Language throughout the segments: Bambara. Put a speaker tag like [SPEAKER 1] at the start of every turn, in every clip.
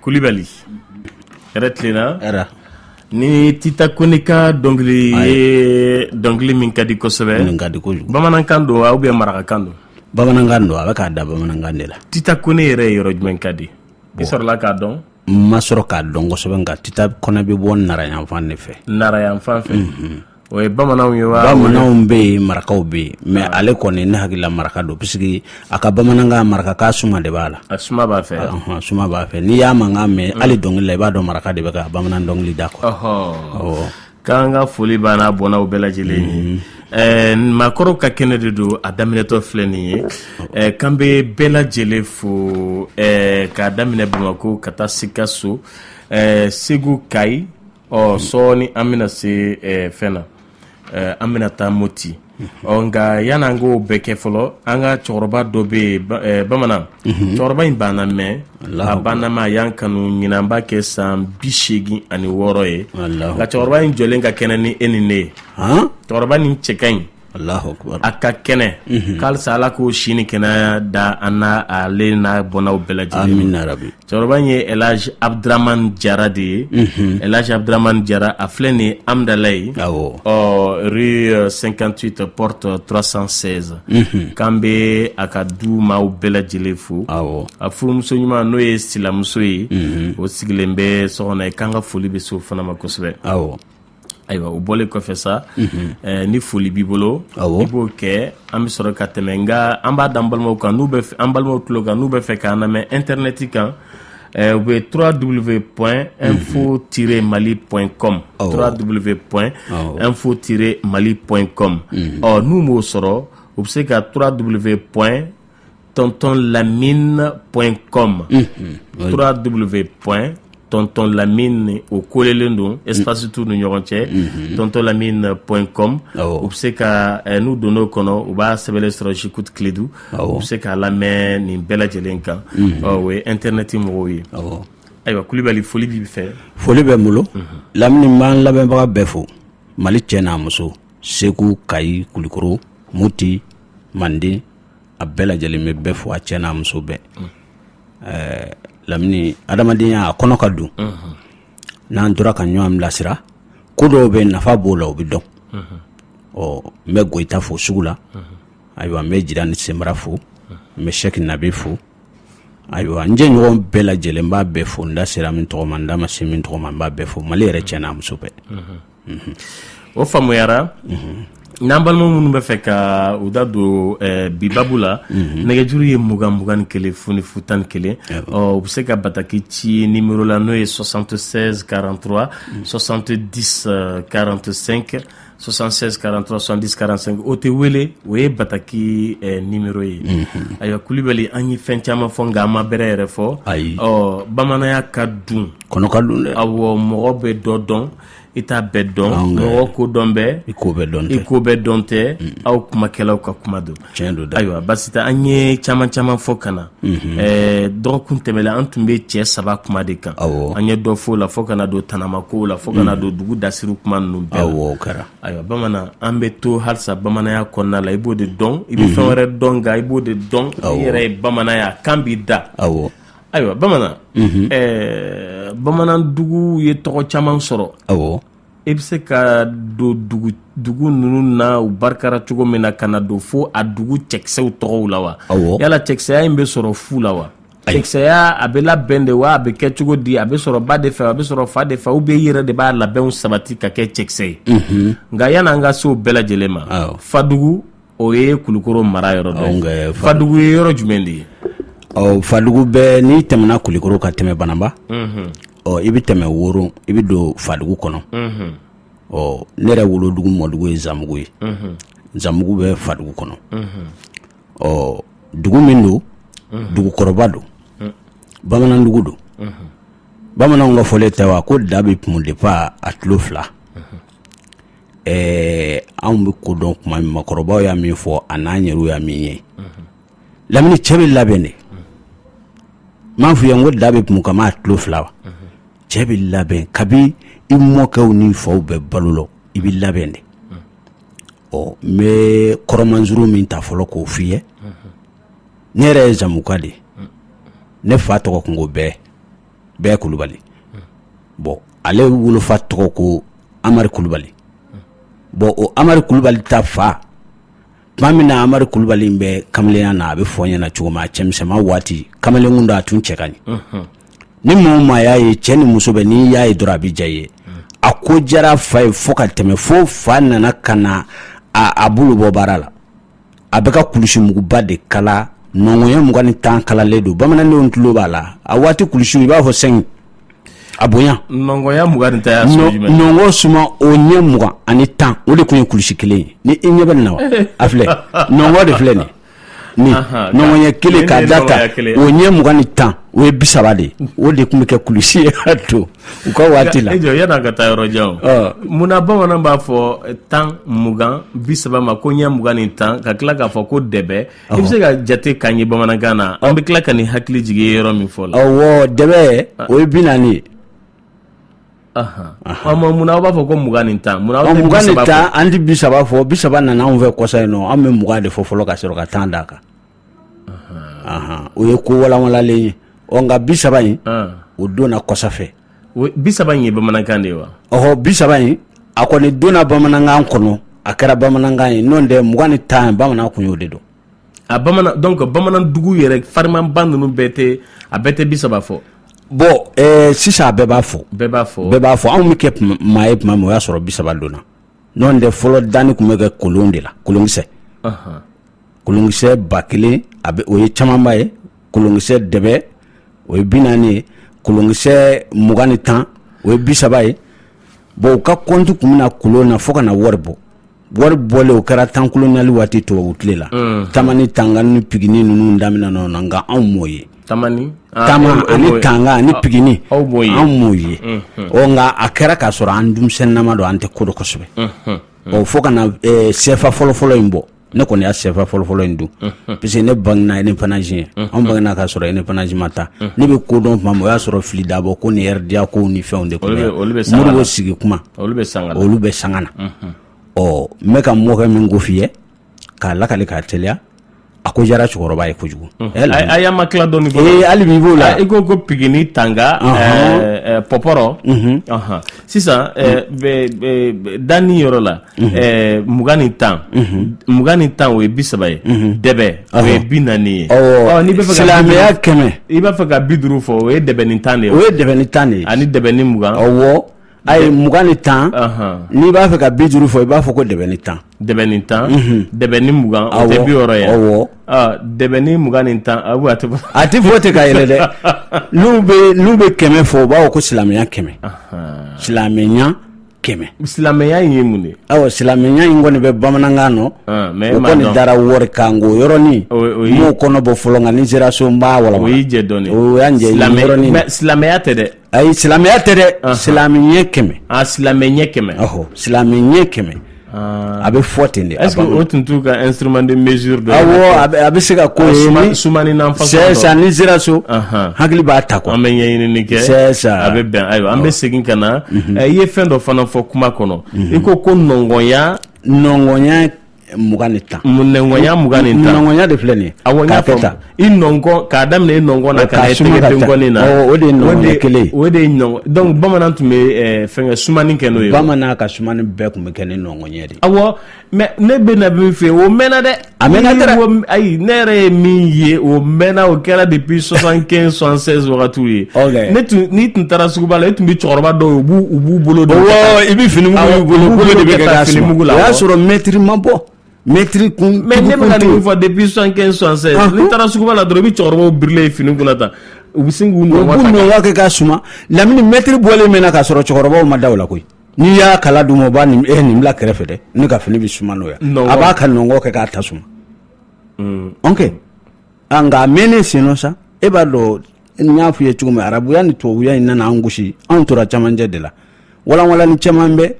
[SPEAKER 1] kulibali hɛrɛ tilenna
[SPEAKER 2] hɛrɛ
[SPEAKER 1] nin tita kɔnɛ ka dɔnkili ye dɔnkili min ka di kosɛbɛ min ka di kojugu bamanankan don ou bien marakakan don bamanankan don a
[SPEAKER 2] bɛ k'a da bamanankan de la tita kɔnɛ yɛrɛ ye
[SPEAKER 1] yɔrɔ jumɛn ka di i sɔrɔla k'a dɔn n ma sɔrɔ k'a dɔn
[SPEAKER 2] kosɛbɛ nka tita kɔnɛ bɛ bɔ nara yanfan de fɛ nara yanfan fɛ mhm.
[SPEAKER 1] O ye bamananw ye wa bamananw bɛ
[SPEAKER 2] yen marakaw bɛ yen mais ah. ale kɔni ne hakili la maraka don parce que a ka bamanankan maraka ka suma de b'a la a suma b'a fɛ ah,
[SPEAKER 1] suma b'a fɛ n'i
[SPEAKER 2] y'a mankan mɛn mm. hali dɔnkili la i b'a dɔn maraka de bɛ ka bamanan dɔnkili da ko
[SPEAKER 1] k'an ka foli b'a n'a bɔnnaw bɛɛ lajɛlen ye mm. eh, maakɔrɔw ka kɛnɛ de don a daminɛtɔ filɛ nin ye eh, k'an bɛ bɛɛ lajɛlen fo eh, k'a daminɛ bamakɔ ka taa sikaso segu kayi ɔ sɔɔni an bɛna se eh, fɛn na eh, an bɛna taa moti ɔ nka yanni an k'o bɛɛ kɛ fɔlɔ an ka cɛkɔrɔba dɔ bɛ yen ba- eh, bamanan cɛkɔrɔba in b'an lamɛn a b'an lamɛn a y'an kanu ɲinan b'a kɛ san bi seegin ani wɔɔrɔ ye Alahu nka cɛkɔrɔba in jɔlen ka kɛnɛ ni e ni ne ye han cɛkɔrɔba nin cɛ ka ɲi a ka kɛnɛ k'alisa ala k'o si ni kɛnɛya da an na ale n'a bɔnnaw bɛɛ lajɛlen cɛkɔrɔba in ye elaji abuduramani jara de ye elaji abuduramani jara a filɛ nin amidalayi rue cinquante-huit porte trois cent seize k'an bɛ a ka dumaaw bɛɛ lajɛlen fo a furumuso ɲuman n'o ye silamuso ye o sigilen bɛ so kɔnɔ yen k'an ka foli bɛ s'o fana ma kosɛbɛ ayiwa o bɔlen kɔfɛ sa ni foli b'i bolo i b'o kɛ an bɛ sɔrɔ ka tɛmɛ n nka an b'a dan balimaw kan n'u an balimaw tulo kan n'u bɛ fɛ k'an lamɛn e tɛ neti kan u bɛ tura dubolo bɛ pɔn n fo ti mali pɔn kɔn tura dubolo bɛ pɔn n fo ti mali pɔn kɔn ɔ n'u b'o sɔrɔ u bɛ se ka tura dubolo bɛ pɔn tɔntɔn lamine point com trois w point tɔntɔn lamine o kolelen don espace t'u ni ɲɔgɔn cɛ tɔntɔn lamine point com u bɛ se ka eh, n'u donn'o kɔnɔ u b'a sɛbɛnlen sɔrɔ j'écoute kledu u bɛ se k'a lamɛn nin bɛɛ lajɛlen kan ɔ o ye internet mɔgɔw ye ayiwa kulibali foli b'i fɛ foli bɛ n
[SPEAKER 2] bolo lamini n b'an lamɛnbaga bɛɛ fo mali cɛ n'a muso segu kayi kulikoro muti manden a bɛɛ lajɛlen bɛ bɛɛ fo a cɛ n'a muso bɛɛ lamini adamadenya a kɔnɔ ka dun n'an tora ka ɲɔgɔn bilasira ko dɔw bɛ nafa b'o la o bɛ dɔn ɔ n bɛ goyita fo sugu la ayiwa n bɛ jirani sɛra fo n bɛ sɛki nabe fo ayiwa n jɛɲɔgɔn bɛɛ lajɛlen n b'a bɛɛ fo n da sera min tɔgɔ ma n da ma se min tɔgɔ ma n b'a bɛɛ fo mali yɛrɛ cɛ n'a muso bɛɛ
[SPEAKER 1] o faamuyara n'an balima minnu bɛ fɛ ka u da don eh, bi babu la mhm. nɛgɛjuru ye mugan mugan ni kelen fu ni fu tan ni kelen u bɛ se ka bataki ci nimero la n'o ye 76 43 70 45 76 43 70 45 o tɛ wele o ye bataki eh, nimero ye mhm. ayiwa kulibali an ye fɛn caman fɔ nka an ma bɛrɛ yɛrɛ fɔ ayi bamananya ka dun kɔnɔ ka dun dɛ
[SPEAKER 2] awɔ mɔgɔ bɛ dɔ
[SPEAKER 1] dɔn i t'a bɛɛ dɔn mɔgɔ ko dɔn bɛ i ko bɛɛ dɔn tɛ aw kumakɛlaw ka kuma don tiɲɛ don dɛ ayiwa basi tɛ an ye caman caman fɔ ka na dɔgɔkun tɛmɛlen an tun bɛ cɛ saba kuma de kan an ye dɔ fɔ o la fo ka na don tanamakow la fo ka na don dugu dasiri kuma ninnu bɛɛ la ayiwa bamanan an bɛ to halisa bamananya kɔnɔna la i b'o de dɔn i bɛ fɛn wɛrɛ dɔn nka i b'o de dɔn i yɛrɛ ye bamananya kan b'i da aw Ayiwa bamanan bamananduguw ye tɔgɔ caman sɔrɔ i bɛ se ka don dugu ninnu na u barikara cogo min na ka na don fo a dugu cɛkisɛw tɔgɔw la wa yala cɛkisɛya in bɛ sɔrɔ fu la wa cɛkisɛya a bɛ labɛn de wa a bɛ kɛ cogo di a bɛ sɔrɔ ba de fɛ a bɛ sɔrɔ fa de fɛ ou bien i yɛrɛ de b'a labɛnw sabati ka kɛ cɛkisɛ ye nka yan'an ka se o bɛɛ lajɛlen ma fadugu o ye kulikoro mara yɔrɔ dɔ ye fadugu ye yɔrɔ jumɛn de ye ɔ
[SPEAKER 2] fadugu bɛ n'i tɛmɛna kulikoro ka tɛmɛ banamba ɔ i bɛ tɛmɛ woro i bɛ don fadugu kɔnɔ ɔ ne yɛrɛ wolodugu mɔdugu ye zanbugu ye zanbugu bɛ fadugu kɔnɔ ɔ dugu min don dugukɔrɔba don bamanandugu don bamananw ka fɔlen tɛ wa ko da bɛ kumu depuis a tulo fila ɛɛ anw bɛ ko dɔn kuma min makɔrɔbaw y'a min fɔ a n'an yɛrɛw y'a min ye lamini cɛ bɛ labɛn de m'a f'i ye ko da bɛ kumu kabi a tulo fila wa cɛ bɛ labɛn kabi i mɔkɛw ni faw bɛ balo la i bɛ labɛn de ɔ n bɛ kɔrɔmanzuru min ta fɔlɔ k'o f'i ye ne yɛrɛ ye zamuka de ye ne fa tɔgɔ kun ko bɛɛ bɛɛ kulubali bɔn ale wolofa tɔgɔ ko amari kulubali bɔn o amari kulubali ta fa tuma min na amari kulubali bɛ kamalenya na a bɛ fɔ ɲɛna cogo min a cɛmisɛnman waati kamalenkun don a tun cɛ ka ɲi ni maa o maa y'a ye cɛ ni muso bɛɛ n'i y'a ye dɔrɔn a bɛ diya i ye a ko diyara fa ye fo ka tɛmɛ fo fa nana ka na a bolo bɔ baara la a bɛ ka kulusimuguba de kala nɔngɔnya mugan ni tan kalalen don bamanandenw tulo b'a la a waati kulusiw i b'a fɔ sɛgin a bonya nɔngɔnya mugan ni
[SPEAKER 1] tan nɔngɔ suma o
[SPEAKER 2] ɲɛ mugan ani tan o de tun ye kulusi kelen ye ni i ɲɛ bɛ nin na wa a filɛ nɔngɔ de filɛ nin ni nɔngɔnya kelen k'a da tan o ɲɛ mugan ni tan o ye bi saba de o de tun bɛ kɛ kulusi ye ka to u ka waati la e jɔ yann'an ka taa yɔrɔ
[SPEAKER 1] jan o munna bamanan b'a fɔ tan mugan bi saba ma ko ɲɛ mugan ni tan ka tila k'a fɔ ko dɛbɛ i bɛ se ka jate k'an ye bamanankan na an bɛ tila ka n'i hakili jigin yɔrɔ min fɔ la ɔwɔ
[SPEAKER 2] dɛbɛ o ye bi naani
[SPEAKER 1] ye munna aw b'a fɔ ko mugan ni tan munna aw mugan ni tan an tɛ bi
[SPEAKER 2] saba fɔ bi saba nana anw fɛ kɔsa in nɔ an bɛ mugan de fɔ fɔlɔ ka sɔrɔ ka tan d'a kan o ye ko walanwalanlen ye ɔ nka bi saba in o donna kɔsa fɛ bi saba in ye
[SPEAKER 1] bamanankan de ye wa ɔɔ bi saba in
[SPEAKER 2] a kɔni donna bamanankan kɔnɔ a kɛra bamanankan ye n'o tɛ mugan ni tan bamanan kun y'o de dɔn donc
[SPEAKER 1] bamanandugu yɛrɛ farimanba ninnu bɛɛ tɛ a bɛɛ tɛ bi saba fɔ bon
[SPEAKER 2] sisan a bɛɛ b'a fɔ bɛɛ b'a fɔ bɛɛ b'a fɔ anw bɛ kɛ maa ye tuma min o y'a sɔrɔ bi saba donna N'o tɛ fɔlɔ danni kun bɛ kɛ kolon de la kolonkisɛ anhan kolonkisɛ 1000 a be o ye camanba ye kolonkisɛ dɛbɛ o ye 40 ye kolonkisɛ mugan ni 10 o ye 30 ye bon u ka compte kun bɛ na kolon na fo ka na wari bɔ wari bɔlen o kɛra temps colonial waati tubabu tile la unhun tama ni tanga ni pigini ninnu daminɛna o na nka anw m'o ye ani tanga ni pigini anw m'o ye ɔ nka a kɛra k'a sɔrɔ an denmisɛnninnama don an tɛ ko dɔn kosɛbɛ ɔ fo ka na sɛfa fɔlɔfɔlɔ in bɔ ne kɔni y'a sɛfa fɔlɔfɔlɔ in dun parce que ne bangena indépendance ɲɛ an bangena k'a sɔrɔ indépendance ma ta ne bɛ ko dɔn tuma min o y'a sɔrɔ Fili Dabo ko ni RDA ko ni fɛnw de bɛ sigi kuma olu bɛ sanga na ɔ n bɛ n ka mɔkɛ min ko f'i ye k'a lakale k'a teliya a ko diyara cɛkɔrɔba ye kojugu ayi a ma
[SPEAKER 1] tila dɔɔni hali bi b'o la i
[SPEAKER 2] ko ko pigini tanga
[SPEAKER 1] pɔpɔrɔ sisan danni yɔrɔ la mugan ni tan mugan ni tan o ye bi saba ye dɛbɛ o ye bi naani ye n'i bɛ fɛ ka silamɛya kɛmɛ i
[SPEAKER 2] b'a fɛ ka bi duuru
[SPEAKER 1] fɔ o ye dɛbɛ ni tan de o ye dɛbɛ ni tan de
[SPEAKER 2] ani dɛbɛ ni mugan
[SPEAKER 1] Ayi
[SPEAKER 2] mugan ni tan n'i b'a fɛ ka bi duuru fɔ i b'a fɔ ko dɛbɛ ni tan dɛbɛ ni
[SPEAKER 1] tan dɛbɛ ni mugan o tɛ bi wɔɔrɔ ye
[SPEAKER 2] awɔ dɛbɛ ni
[SPEAKER 1] mugan ni tan a a tɛ fɔ
[SPEAKER 2] ten ka yɛlɛ dɛ n'u bɛ kɛmɛ fɔ u b'a fɔ ko silamɛya kɛmɛ silamɛya kɛmɛ silamɛya in
[SPEAKER 1] ye mun de aw silamɛya in
[SPEAKER 2] kɔni bɛ bamanankan nɔ mais o kɔni dara wari kan ko yɔrɔnin m'o kɔnɔ bɔ fɔlɔ nka ni sera so n b'a walawala o y'i jɛ
[SPEAKER 1] dɔɔni o
[SPEAKER 2] y' silamɛya tɛ dɛ
[SPEAKER 1] Ayi silamɛya tɛ
[SPEAKER 2] dɛ silamɛ ɲɛ kɛmɛ silamɛ ɲɛ
[SPEAKER 1] kɛmɛ silamɛ ɲɛ
[SPEAKER 2] kɛmɛ a bɛ fɔ ten de est-ce que o tun t'u ka
[SPEAKER 1] instrument de mesure dɔ ye a bɛ se ka
[SPEAKER 2] ko sumanninan
[SPEAKER 1] fana ni sera
[SPEAKER 2] so hakili b'a ta ko an bɛ ɲɛɲinini
[SPEAKER 1] kɛ a bɛ
[SPEAKER 2] bɛn ayiwa an
[SPEAKER 1] bɛ segin ka na i ye fɛn dɔ fana fɔ kuma kɔnɔ i ko ko nɔngɔnɲa nɔngɔnɲa mugan ni tan nɔnkɔnya mugan ni tan nɔnkɔnya de filɛ nin ye
[SPEAKER 2] awɔ n y'a faamu tan
[SPEAKER 1] i nɔnkɔn k'a daminɛ i nɔnkɔn na ka na i tɛgɛ denkɔni na o de ye nɔnkɔn kelen
[SPEAKER 2] o de ye nɔnkɔn donc
[SPEAKER 1] bamanan tun bɛ eh, fɛnkɛ sumani kɛ n'o ye bamanan ka sumani
[SPEAKER 2] bɛɛ tun bɛ kɛ ni nɔnkɔnya de ye awɔ
[SPEAKER 1] mais ne bɛ na min fɔ o mɛnna dɛ a mɛnna dɛ
[SPEAKER 2] ayi ne yɛrɛ ye
[SPEAKER 1] min ye o mɛnna o kɛra depuis 75 76 wagatiw ye ne tun n'i tun taara suguba la e tun bɛ cɛkɔrɔba dɔw ye b'u u b'u bolo i bɛ
[SPEAKER 2] fini bolo bolo de bɛ fini mugu la o y'a sɔrɔ mɛtiri ma bɔ mɛtiri kun mais ne bɛna nin fɔ
[SPEAKER 1] depuis 75 76 n'i taara suguba la dɔrɔn i bɛ cɛkɔrɔbaw birilen ye fini kunna tan u bɛ sin k'u nɔngɔn kɛ k'a
[SPEAKER 2] suma lamini mɛtiri bɔlen mɛnna k'a sɔrɔ cɛkɔrɔbaw ma da o la koyi n'i y'a kala dun o b'a nin e nin bila kɛrɛfɛ dɛ ne ka fini bɛ suma n'o ye a b'a ka nɔngɔn kɛ k'a ta suma ok an nka a mɛnnen sen nɔ sa e b'a dɔn n y'a f'i ye cogo min arabuya ni tubabuya in nana an gosi anw tora camancɛ de la walanwalani caman bɛ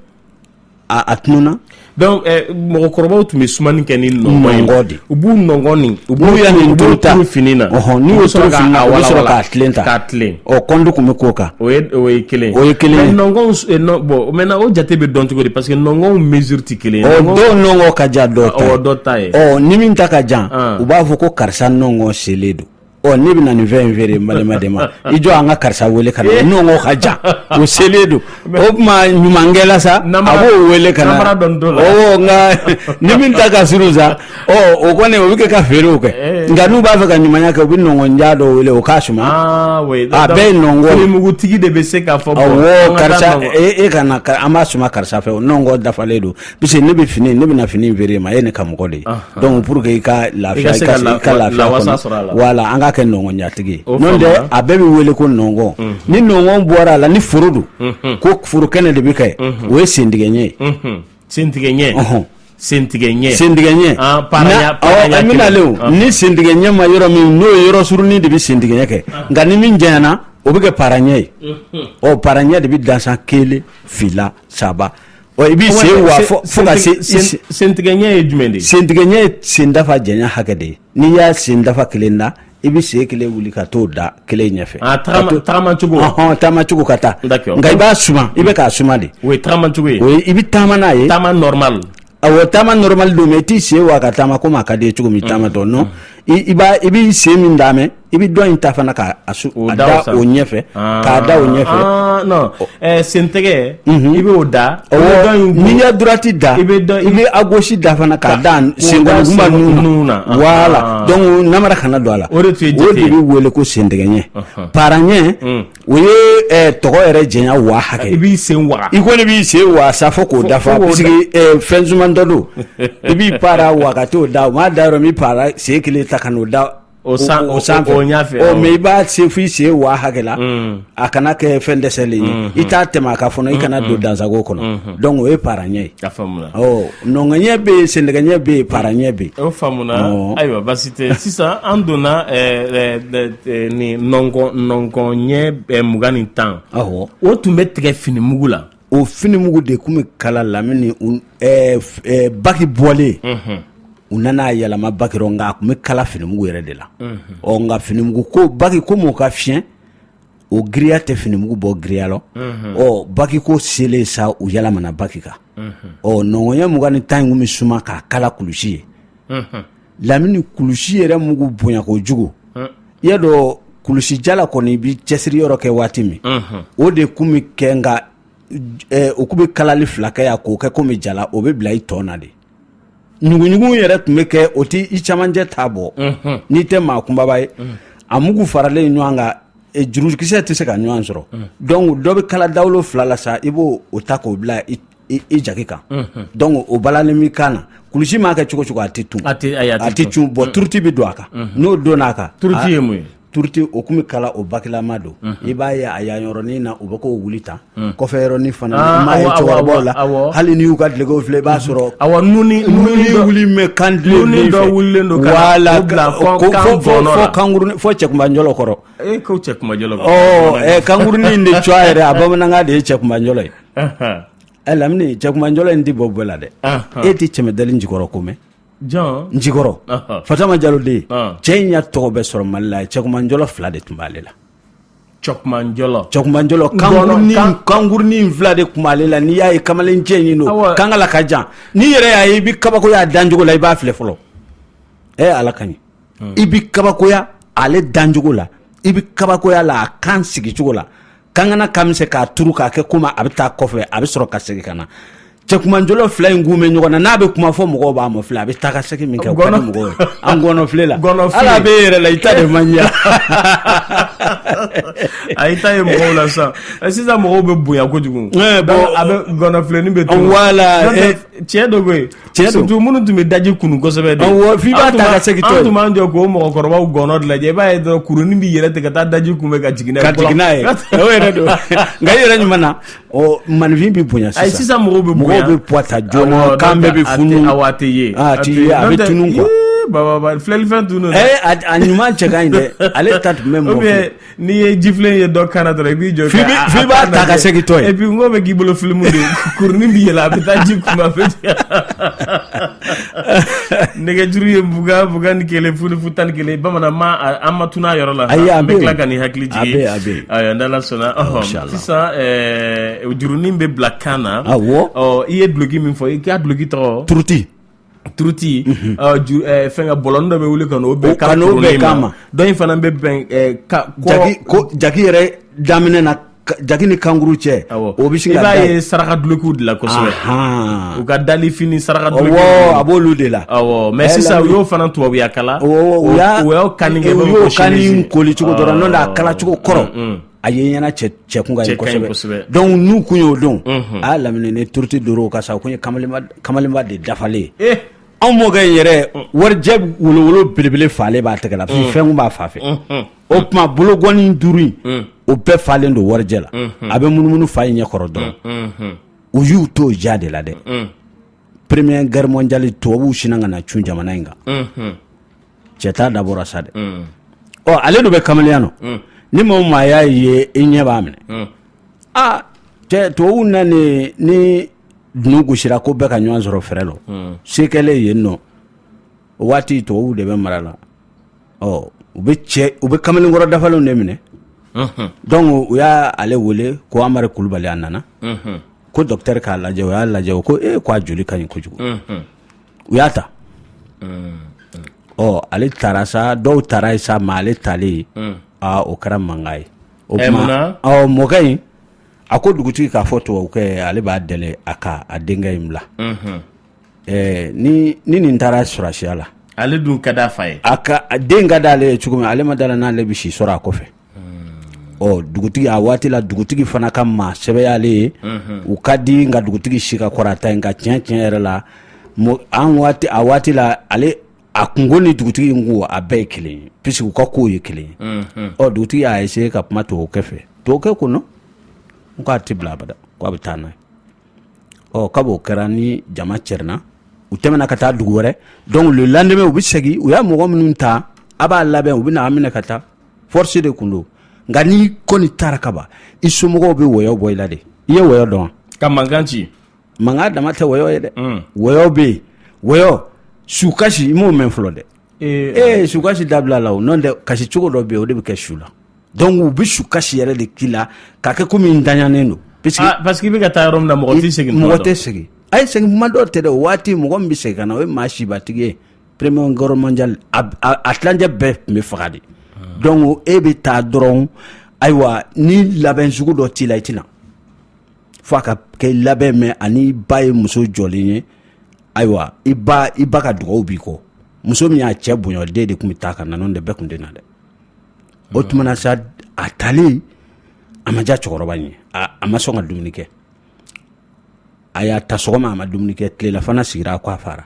[SPEAKER 2] a tununna donc
[SPEAKER 1] eh, mɔgɔkɔrɔbaw tun bɛ sumani kɛ ni nɔngɔn de u b'u
[SPEAKER 2] nɔngɔn nin
[SPEAKER 1] u b'u yan in
[SPEAKER 2] turu fini na n'u y'o
[SPEAKER 1] turu fini
[SPEAKER 2] na u bɛ sɔrɔ k'a wala k'a tilen tan k'a tilen ɔ kɔnden
[SPEAKER 1] kun bɛ k'o
[SPEAKER 2] kan o ye o ye
[SPEAKER 1] kelen o ye kelen ye
[SPEAKER 2] nɔngɔnw eh, bon
[SPEAKER 1] maintenant o jate bɛ dɔn cogo di parce que nɔngɔnw mesure tɛ kelen ye ɔ dɔw nɔngɔn ka
[SPEAKER 2] jan dɔw ta ye dɔ ta ye
[SPEAKER 1] ɔ ni min ta ka
[SPEAKER 2] jan ah. u b'a fɔ ko karisa nɔngɔn selen don ɔ ne bɛ na nin fɛn in feere n balima de ma i jɔ an ka karisa wele ka na eh. nɔngɔn ka jan o selen don o tuma ɲumankɛla sa a b'o wele ka na nka ni min ta ka surun sa o kɔni o bɛ kɛ ka feerew kɛ nka n'u b'a fɛ ka ɲumanya kɛ u bɛ nɔngɔn jan dɔ wele o k'a suma a bɛɛ ye nɔngɔn finimugutigi de bɛ se
[SPEAKER 1] k'a fɔ karisa
[SPEAKER 2] e ka na an b'a suma karisa fɛ o nɔngɔn dafalen don parce que ne bɛ fini ne bɛna fini feere ma e ne ka mɔgɔ de ye donc pour que i ka lafiya i ka lafiya kɔnɔ voilà an k'a kɛ nɔngɔnjantigi n'o tɛ a bɛɛ bɛ wele ko nɔngɔn ni nɔngɔn bɔra a la ni foro don ko foro kɛnɛ de bɛ kɛ o ye sentigɛ ɲɛ
[SPEAKER 1] ye sentigɛ ɲɛ sentigɛ ɲɛ sentigɛ ɲɛ an
[SPEAKER 2] bɛna ale o ni sentigɛ ɲɛ ma yɔrɔ min n'o ye yɔrɔ surunin de bɛ sentigɛ ɲɛ kɛ nka ni min janyana o bɛ kɛ paraɲɛ ye ɔ paraɲɛ de bɛ dansan kelen fila saba I b'i sen wa fo ka se sentigɛ ɲɛ
[SPEAKER 1] ye jumɛn de ye sentigɛ ɲɛ ye
[SPEAKER 2] sen dafa janya hakɛ de ye n'i y'a sen dafa kelen da i bɛ sen kelen wuli ka t'o da kelen ɲɛfɛ taama cogo ka taa nka i b'a suma i bɛ k'a suma de o ye taama cogo
[SPEAKER 1] ye i bɛ taama n'a ye
[SPEAKER 2] taama normal
[SPEAKER 1] awɔ taama
[SPEAKER 2] normal don mais i t'i sen wa ka taama komi a ka di i ye cogo min taama dɔn i b'i sen min d'a mɛn i bɛ dɔ in ta fana k'a da o ɲɛfɛ k'a da o ɲɛfɛ
[SPEAKER 1] sen tɛgɛ i bɛ o da n'i ye
[SPEAKER 2] droite da i bɛ à gauche da fana k'a da senkɔniba nun na voilà donc namara kana don a la o de bɛ wele ko sen tɛgɛ ɲɛ paraɲɛ O ye tɔgɔ yɛrɛ janya wa hakɛ i b'i
[SPEAKER 1] sen
[SPEAKER 2] i
[SPEAKER 1] kɔni b'i sen waa
[SPEAKER 2] sa fo k'o dafa fɛn suman dɔ don i b'i para waa ka t'o da o m'a da yɔrɔ min i b'i sen kelen ta ka n'o da o san o sanfɛ mais i b'a se fo i sen waa hakɛ la a kana kɛ fɛn dɛsɛlen ye i t'a tɛmɛ a kan fana i kana don dansago kɔnɔ donc o ye para ɲɛ ye nɔngɔn ɲɛ bɛ yen sentɛgɛ ɲɛ bɛ yen para ɲɛ bɛ yen ayiwa
[SPEAKER 1] baasi tɛ sisan an donna Nin nɔngɔnɲɛ mugan ni tan o tun bɛ tigɛ finimugu la o finimugu de
[SPEAKER 2] tun bɛ kala lamini baki bɔlen u nana yɛlɛma baki rɔ nka a tun bɛ kala finimugu yɛrɛ de la ɔ nka finimugu ko baki komi o ka fiyɛn o giriya tɛ finimugu bɔ giriya la ɔ baki ko selen sa u yɛlɛmana baki kan ɔ nɔngɔnɲɛ mugan ni tan in tun bɛ suma k'a kala kulusi ye lamini kulusi yɛrɛ mugu bonya kojugu i y'a dɔn kulusijala kɔni i bɛ cɛsiri yɔrɔ kɛ waati min o de tun bɛ kɛ nka o tun bɛ kalali fila kɛ yan k'o kɛ komi jala o bɛ bila i tɔn na de ɲugunɲugu yɛrɛ tun bɛ kɛ o tɛ i camancɛ ta bɔ n'i tɛ maa kunbaba ye a mugu faralen ɲɔgɔn kan e, jurukisɛ tɛ se ka ɲɔgɔn sɔrɔ donc dɔ bɛ kala dawolo fila la sa i b'o ta k'o bila i jaki kan donc o balalen b'i kan na kulusi m'a kɛ cogo cogo a tɛ tun a tɛ cun bon turuti bɛ don a kan n'o donna a kan turuti ye mun ye
[SPEAKER 1] turuti o tun bɛ
[SPEAKER 2] kala o bakilama don i b'a ye a yan yɔrɔnin na u bɛ k'o wuli tan kɔfɛ yɔrɔnin fana i m'a ye cɛkɔrɔbaw la hali n'i y'u ka dulɔki filɛ i b'a sɔrɔ a
[SPEAKER 1] wuli bɛ
[SPEAKER 2] kan don kan fo cɛkunbanjɔlɔ
[SPEAKER 1] kɔrɔ
[SPEAKER 2] kankurunin de c yɛrɛ a bamanankan de ye cɛkunbanjɔlɔ ye ɛ lamini cɛkunbanjɔlɔ in tɛ bɔ bɛɛ la dɛ e tɛ cɛmandali njikɔrɔ ko mɛn Njikɔrɔ fatama jalo de ye cɛ in y'a tɔgɔ bɛ sɔrɔ mali la ye cɛkumanjɔlɔ fila de tun b'ale la cɛkumanjɔlɔ cɛkumanjɔlɔ kankurunin fila de tun b'ale la n'i y'a ye kamalen cɛ in don kankala ka jan n'i yɛrɛ y'a ye i bɛ kabakoya a dancogo la i b'a filɛ fɔlɔ ɛ ala ka ɲi i bɛ kabakoya ale dancogo la i bɛ kabakoya la a kan sigicogo la kankana ka misɛn k'a turu k'a kɛ komi a bɛ taa kɔfɛ a bɛ sɔrɔ ka segin ka na cɛkumanjɔlɔ fila in kun bɛ ɲɔgɔn na n'a bɛ kuma fo mɔgɔw b'a mafilɛ a bɛ taa ka segin min kɛ mɔgɔ an gɔnɔfile la ala bɛ yɛrɛ la i ta de man
[SPEAKER 1] ɲɛ a i ta ye mɔgɔw la sisan sisan mɔgɔw bɛ bonya kojugu a bɛɛ gɔnɔfilenin bɛ tunun voilà
[SPEAKER 2] cɛ dɔ bɛ yen
[SPEAKER 1] Tiɲɛ don surtout minnu tun bɛ daji kunun kosɛbɛ de, awɔ, f'i b'a ta ka
[SPEAKER 2] segin tɔ ye, an tun b'an jɔ
[SPEAKER 1] k'o mɔgɔkɔrɔbaw gɔnɔ de lajɛ i b'a ye dɔrɔn kurunin bɛ yɛlɛ ten ka taa daji kunbɛn ka jigin n'a ye, ka jigin n'a ye, o yɛrɛ
[SPEAKER 2] don nka i yɛrɛ ɲuman na ɔ maaninfin bɛ bonya sisan, ayi sisan mɔgɔw bɛ
[SPEAKER 1] bonya, mɔgɔw bɛ poids ta
[SPEAKER 2] joona kan bɛɛ bɛ funu, awɔ a tɛ ye,
[SPEAKER 1] a tɛ ye a bɛ
[SPEAKER 2] tunun quoi, ee bababa filɛlifɛn
[SPEAKER 1] tun don dɛ, ee a ɲuman
[SPEAKER 2] cɛ ka ɲi dɛ ale ta tun bɛ mɔgɔ fɛ N'i ye jifilen
[SPEAKER 1] ye dɔ kan na dɔrɔn i b'i jɔ f'i b'a ta
[SPEAKER 2] ka segin tɔ ye et puis n ko bɛ k'i
[SPEAKER 1] bolo filimu de kurunin bɛ yɛlɛ a bɛ taa ji kun fɛ nɛgɛjuru ye mugan ni kelen fu fu tan ni kelen bamanan an ma tunun a yɔrɔ la ayi an bɛ tila ka nin hakili jigin ayiwa n'Ala sɔnna sisan jurunin bɛ bila kan na i ye duloki min fɔ i k'a duloki tɔgɔ turuti turuti mhm. ah, eh, fɛn ka bɔlɔn dɔ bɛ wuli ka n'o bɛn kan n'o bɛn kan ma dɔ in fana bɛ bɛn eh, ka jaki ko
[SPEAKER 2] jaki yɛrɛ daminɛ na jaki ni kankuru cɛ o bɛ sin ka da i b'a ye saraka
[SPEAKER 1] dulokiw de la kosɛbɛ u ka dalifini saraka dulokiw awɔ a b'olu de
[SPEAKER 2] la awɔ mais sisan u
[SPEAKER 1] y'o fana tubabuya kala o y'a u y'o kanni kɛ u y'o kanni
[SPEAKER 2] koli cogo dɔrɔn n'o tɛ a kala cogo kɔrɔ. Mm, mm. a ye ɲɛna cɛ kun ka ɲi kosɛbɛ donc n'u kun y'o don a y'a lamini ni turuti doro ka sa o kun ye kamalenba de dafalen ye anw mɔkɛ in yɛrɛ warijɛ wolowolo belebele falen b'a tɛgɛ la mm. fɛn kun b'a fa fɛ mm-hmm. o tuma bologɔni duuru in mm. o bɛɛ falen don warijɛ la mm-hmm. a bɛ munumunu fa in ɲɛ kɔrɔ dɔrɔn mm-hmm. u y'u t'o ja de la dɛ mm. première guerre mondiale tubabuw sinna ka na cun jamana in kan cɛta dabɔra sa dɛ ɔ ale dun bɛ kamalenya nɔ ni maa o maa y'a ye i ɲɛ b'a minɛ aa cɛ tubabuw nani ni dunu gosira ko bɛɛ ka ɲɔgɔn sɔrɔ fɛrɛ lɔ se kɛlen yen nɔ o waati tubabuw de bɛ mara la ɔ u bɛ cɛ u bɛ kamalenkɔrɔ dafalenw de minɛ donc u y'a ale wele ko amari kulubali a nana ko docteur k'a lajɛ o y'a lajɛ o ko e ko a joli ka ɲi kojugu u y'a ta ɔ ale tara sa dɔw tara yen sa mais ale talen ye o kɛra mankan ye o mɔkɛ in a ko dugutigi k'a fɔ tubabukɛ ale b'a deli a ka a denkɛ in bila ni nin taara sɔrɔdasiya la ale dun ka di a fa
[SPEAKER 1] ye a den ka di ale
[SPEAKER 2] ye cogo min ale ma da la n'ale bɛ si sɔrɔ a kɔfɛ ɔ dugutigi a waati la dugutigi fana ka maa sɛbɛyalen ye u ka di nka dugutigi si ka kɔrɔta nka tiɲɛ tiɲɛ yɛrɛ la an waati a waati la ale a kunko ni dugutigi in ko a bɛɛ ye kelen ye puisque u ka kow ye kelen ye ɔ dugutigi y'a essayer ka kuma tubabukɛ fɛ tubabukɛ ko non k'a tɛ bila abada ko a bɛ taa n'a ye ɔ kab'o kɛra ni jama cɛrinna u tɛmɛna ka taa dugu wɛrɛ donc le lendemain u bɛ segin u y'a mɔgɔ minnu ta a b'a labɛn u bɛ na a minɛ ka taa force de kun don nka n'i kɔni taara ka ban i somɔgɔw bɛ wɔyɔ bɔ i la de i ye wɔyɔ dɔn ka mankan
[SPEAKER 1] ci mankan dama tɛ
[SPEAKER 2] wɔyɔ ye dɛ mm. wɔyɔ bɛ yen wɔyɔ sukasi i m'o mɛn fɔlɔ dɛ ee eh, eh, sukasi dabilala o nɔntɛ kasi cogo dɔ bɛ yen o de bɛ kɛ su la donc u bɛ sukasi yɛrɛ de k'i la k'a kɛ komi n daɲanen don ah, parce que i bɛ ka
[SPEAKER 1] taa yɔrɔ min na mɔgɔ tɛ segin mɔgɔ tɛ segin a ye
[SPEAKER 2] segin kuma dɔw tɛ dɛ o waati mɔgɔ min bɛ segin ka na o ye maa sibatigi ye Première Guerre mondiale a tilancɛ bɛɛ tun bɛ faga de donc e bɛ taa dɔrɔn ayiwa ni labɛn sugu dɔ t'i la i tɛna fo ka kɛ labɛn mɛn ani ba ye muso jɔlen ye ayiwa i ba i ba ka dugawu b'i kɔ muso min y'a cɛ bonya den de tun bɛ taa ka na n'o tɛ bɛɛ tun tɛ na dɛ o tuma na sa a taalen a ma diya cɛkɔrɔba ye a ma sɔn ka dumuni kɛ a y'a ta sɔgɔma a ma dumuni kɛ tilelafana sigira a k' a fara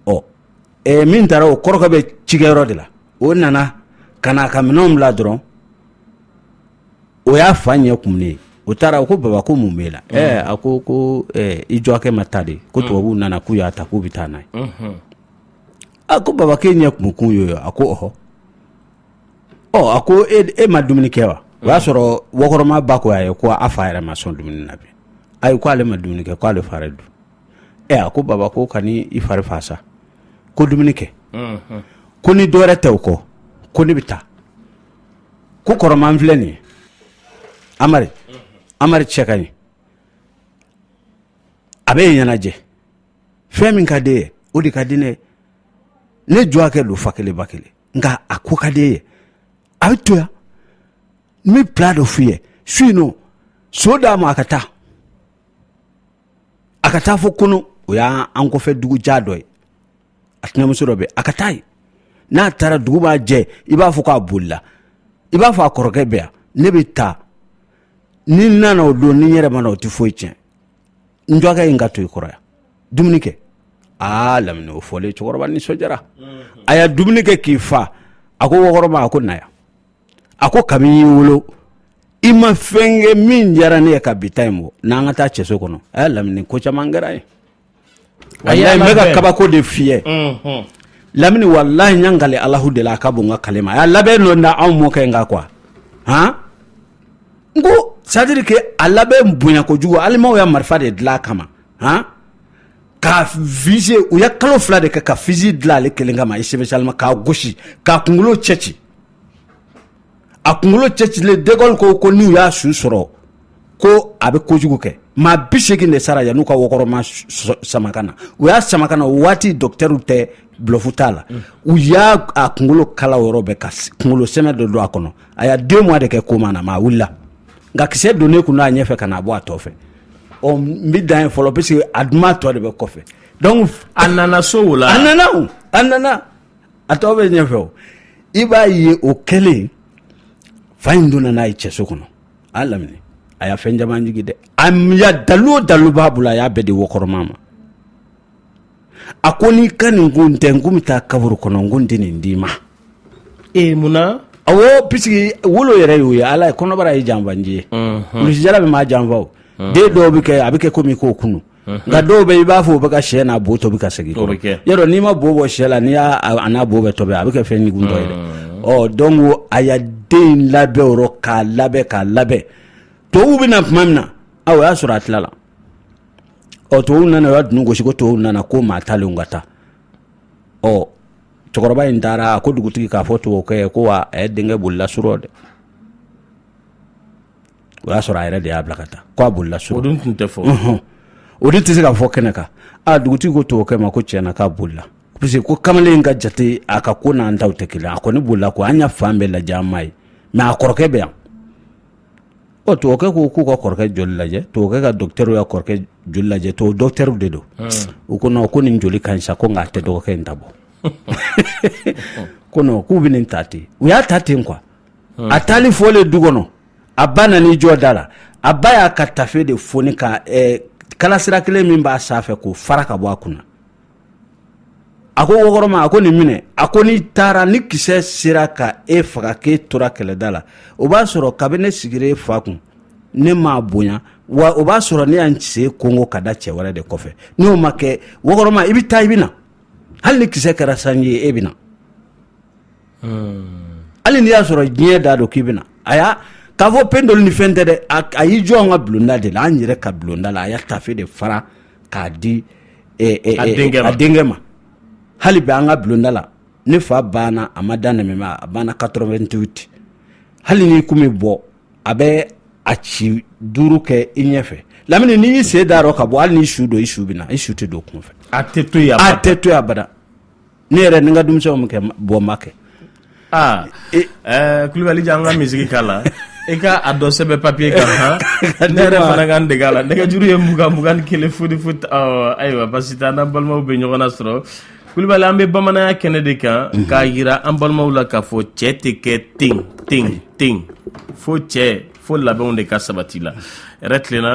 [SPEAKER 2] ɔ ɛɛ min taara o kɔrɔkɛ bɛ cikɛyɔrɔ de la o nana ka na a ka minɛnw bila dɔrɔn o y'a fa ɲɛ kumunen ye o taara o ko baba ko mun b'e la mm. ɛɛ a ko ko ɛɛ i jɔkɛ ma ta de ko mm. tubabuw nana k'u y'a ta k'u bɛ taa n'a ye mm-hmm. a ko baba k'e ɲɛ kumukun y'o ye a ko ɔhɔ ɔ a ko e, e ma dumuni kɛ wa o y'a sɔrɔ wɔkɔrɔma ba ko a ye ko a fa yɛrɛ ma sɔn dumuni na bi ayi ko ale ma dumuni kɛ ko ale fa yɛrɛ dun ɛ a ko baba ko kan'i fari faga sa ko dumuni kɛ ko ni dɔwɛrɛ tɛ o kɔ ko ne bɛ taa ko kɔrɔma n filɛ nin ye amari amari cɛ ka ɲi a bɛ ɲɛnajɛ fɛ min ka d'i ye o de ka di ne ye ne jɔkɛ don fa kelen ba kelen nka a ko ka d'i ye a bɛ to yan n bɛ plan dɔ f'i ye su in nɔ so d'a ma a ka taa a ka taa fo kunu o y'an kɔfɛ dugu jan dɔ ye a tɛnɛmuso dɔ bɛ a ka taa ye n'a taara dugu ba jɛ i b'a fɔ k'a bolila i b'a fɔ a kɔrɔkɛ bɛ yan ne bɛ taa ni n nana o don ni n yɛrɛ ma na o tɛ foyi tiɲɛ n jɔkɛ in ka to i kɔrɔ yan dumuni kɛ aa lamini o fɔlen cɛkɔrɔba nisɔndiyara a y'a dumuni kɛ k'i fa a ko wɔkɔrɔma a ko na yan a ko kabini n y'i wolo i ma fɛn kɛ min diyara ne ye ka bi ta in bɔ n'an ka taa cɛso kɔnɔ ayiwa lamini ko caman kɛra ye walayi n bɛ ka kabako de f'i ye lamini walayi n y'an kale alahu de la a ka bon n ka kale ma a y'a labɛn dɔ da anw mɔkɛ in kan quoi han n ko c'est à dire que a labɛn bonya kojugu alimanw y'a marifa de dilan a kama han ka viser u ye kalo fila de kɛ ka fusil dilan ale kelen kama spécialement k'a gosi k'a kunkolo cɛci a kunkolo cɛcilen de Gaulle ko ko n'u y'a su sɔrɔ ko a bɛ kojugu kɛ maa bi seegin de sara yan'u ka wɔkɔrɔma sama ka na u y'a sama ka na o waati docteurw tɛ bluff t'a la u y'a a kunkolo kala yɔrɔ bɛɛ ka kunkolo sɛmɛ dɔ don a kɔnɔ a y'a deux mois de kɛ coma na mais a wulila nka kisɛ donnen kun n'a ɲɛfɛ ka na bɔ a tɔn fɛ ɔ n bi dan ye fɔlɔ parce que a duman tɔ de bɛ kɔfɛ donc a nana so
[SPEAKER 1] o la a nana o a
[SPEAKER 2] nana a tɔ bɛ ɲɛfɛ o i b'a ye o kɛlen fa in donna n'a ye cɛso kɔnɔ a lamini a y'a fɛn caman jigi dɛ a ya dalu o dalu b'a bolo a y'a bɛɛ di wɔkɔrɔma ma a ko n'i ka nin ko in tɛ n kun bɛ taa kaburu kɔnɔ n kun tɛ nin d'i ma ee
[SPEAKER 1] mun na
[SPEAKER 2] awɔ pisiki wolo yɛrɛ y'o ye ala ye kɔnɔbara ye janfanci ye kulusijala bɛ maa janfa o den dɔw bɛ kɛ a bɛ kɛ komi k'o kunu nka dɔw bɛ i b'a fɔ u bɛ ka sɛ n'a bo tobi ka segin yɔrɔ n'i ma bo bɔ sɛ la n'i y'a n'a bo bɛ tobi a bɛ kɛ fɛn ɲugun dɔ ye dɛ ɔ donc a y'a den labɛn o rɔ k'a labɛn k'a labɛn tubabu bɛ na tuma min na a o y'a sɔrɔ a tilala ɔ tubabu nana u ya dunu gosi ko tubabu nana ko maa talenw ka taa ɔ cɛkɔrɔba in taara a ko dugutigi k'a fɔ tubabukɛ ye ko wa a ye denkɛ bolila surɔ dɛ o y'a sɔrɔ a yɛrɛ de y'a bila ka taa k'a bolila surɔ o dun tun tɛ
[SPEAKER 1] fɔ o dun tɛ se
[SPEAKER 2] ka fɔ kɛnɛ kan a dugutigi ko tubabukɛ ma ko tiɲɛna k'a bolila parce que ko kamalen ka jate a ka ko n'an ta tɛ kelen a kɔni bolila ko an y'a fan bɛɛ lajɛ an m'a ye mɛ a kɔrɔkɛ bɛ yan ɔ tubabukɛ ko k'u ka kɔrɔkɛ joli lajɛ tubabukɛ ka dɔkitɛr y'a kɔrɔkɛ joli lajɛ to dɔkitɛrw de don u ko ko nin joli ka ɲi sa ko nk'a tɛ dɔgɔkɛ in ta bɔ ko k'u bɛ nin ta ten u y'a ta ten kuwa a taali fɔlen du kɔnɔ a ba nana i jɔ da la a ba y'a ka tafe de foni ka eh, kalasira kelen min b'a sanfɛ k'o fara ka bɔ a kunna a ko wɔkɔrɔma a ko nin minɛ a ko n'i taara ni kisɛ sera ka e faga k'e tora kɛlɛda la o b'a sɔrɔ kabini ne sigira e fa kun ne m'a bonya wa o b'a sɔrɔ ne y'an sen kongo ka da cɛ wɛrɛ de kɔfɛ n'o ma kɛ wɔkɔrɔma i bɛ taa i bɛ na hali ni kisɛ kɛra sanji ye e bɛ na hali n'i y'a sɔrɔ diɲɛ da don k'i bɛ na a y'a k'a fɔ pendeli ni fɛn tɛ dɛ a y'i jɔ an ka bulonda de la an yɛrɛ ka bulonda la a y'a tafe de fara k'a di a denkɛ ma hali bi an ka bulonda la ne fa banna a ma da nɛɛma a banna quatre-vingt-dix-huit hali n'i kun bɛ bɔ a bɛ a ci duuru kɛ i ɲɛfɛ lamini n'i y'i sen da rɔ ka bɔ hali n'i su don i su bɛ na i su tɛ don kunfɛ a
[SPEAKER 1] tɛ to yen abada
[SPEAKER 2] ne yɛrɛ ni n ka denmisɛnw min kɛ bɔ ma kɛ aa
[SPEAKER 1] ɛɛ kulubali jan an ka misiki k'a la i ka a dɔ sɛbɛn papiye kan han ne yɛrɛ fana ka n dege a la nɛgɛjuru ye mugan mugan ni kelen fo ni fo ayiwa basi tɛ an n'an balimaw bɛ ɲɔgɔn na sɔrɔ kulubali an bɛ bamananya kɛnɛ de kan mhm. k'a yira an balimaw la k'a fɔ cɛ tɛ kɛ ten ten ten fo cɛ fo labɛnw de ka sabati la yɛrɛ tilenna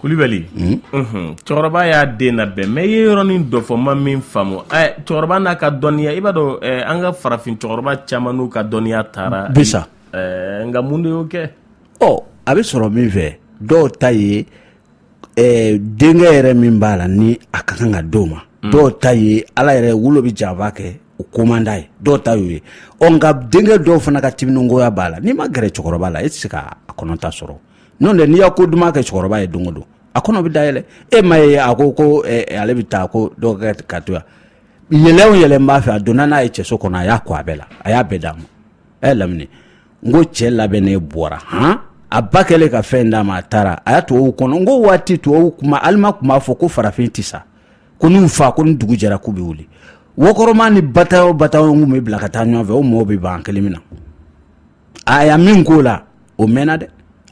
[SPEAKER 1] kulubali cɛkɔrɔba y'a den labɛn mais i ye yɔrɔnin dɔ fɔ n ma min faamu cɛkɔrɔba n'a ka dɔnniya i b'a dɔn an ka farafin cɛkɔrɔba caman n'u ka dɔnniya taara bi sa
[SPEAKER 2] nka mun
[SPEAKER 1] de y'o kɛ ɔ a bɛ
[SPEAKER 2] sɔrɔ min fɛ dɔw ta ye denkɛ yɛrɛ min b'a la ni a ka kan ka d'o ma mm. dɔw ta ye a la yɛrɛwolo bɛ janfa kɛ o ko man d'a ye dɔw ta y'o ye ɔ nka denkɛ dɔw fana ka timiningoya b'a la n'i ma gɛrɛ cɛkɔrɔba la e tɛ se k'a kɔnɔta sɔrɔ n'o tɛ n'i y'a ko duman kɛ cɛkɔrɔba ye don o don a kɔnɔ bɛ dayɛlɛ e ma ye a ko ko ale bɛ taa ko dɔw kɛ ka to yan yɛlɛ o yɛlɛ n b'a fɛ a donna n'a ye cɛso kɔnɔ a y'a ko a bɛɛ la a y'a bɛɛ d'a ma a y'a lamini n ko cɛ labɛnnen bɔra han a ba kɛlen ka fɛn d'a ma a taara a y'a tubabuw kɔnɔ n ko waati tubabuw kuma alima tun b'a fɔ ko farafin tɛ sa ko n'u fa ko ni dugu jɛra k'u bɛ wuli wɔkɔrɔma ni bataillon bataillon kun bɛ bila ka taa ɲɔgɔn fɛ o mɔɔw bɛ ban kɛlɛ min na a y'a min k'o la o mɛnna dɛ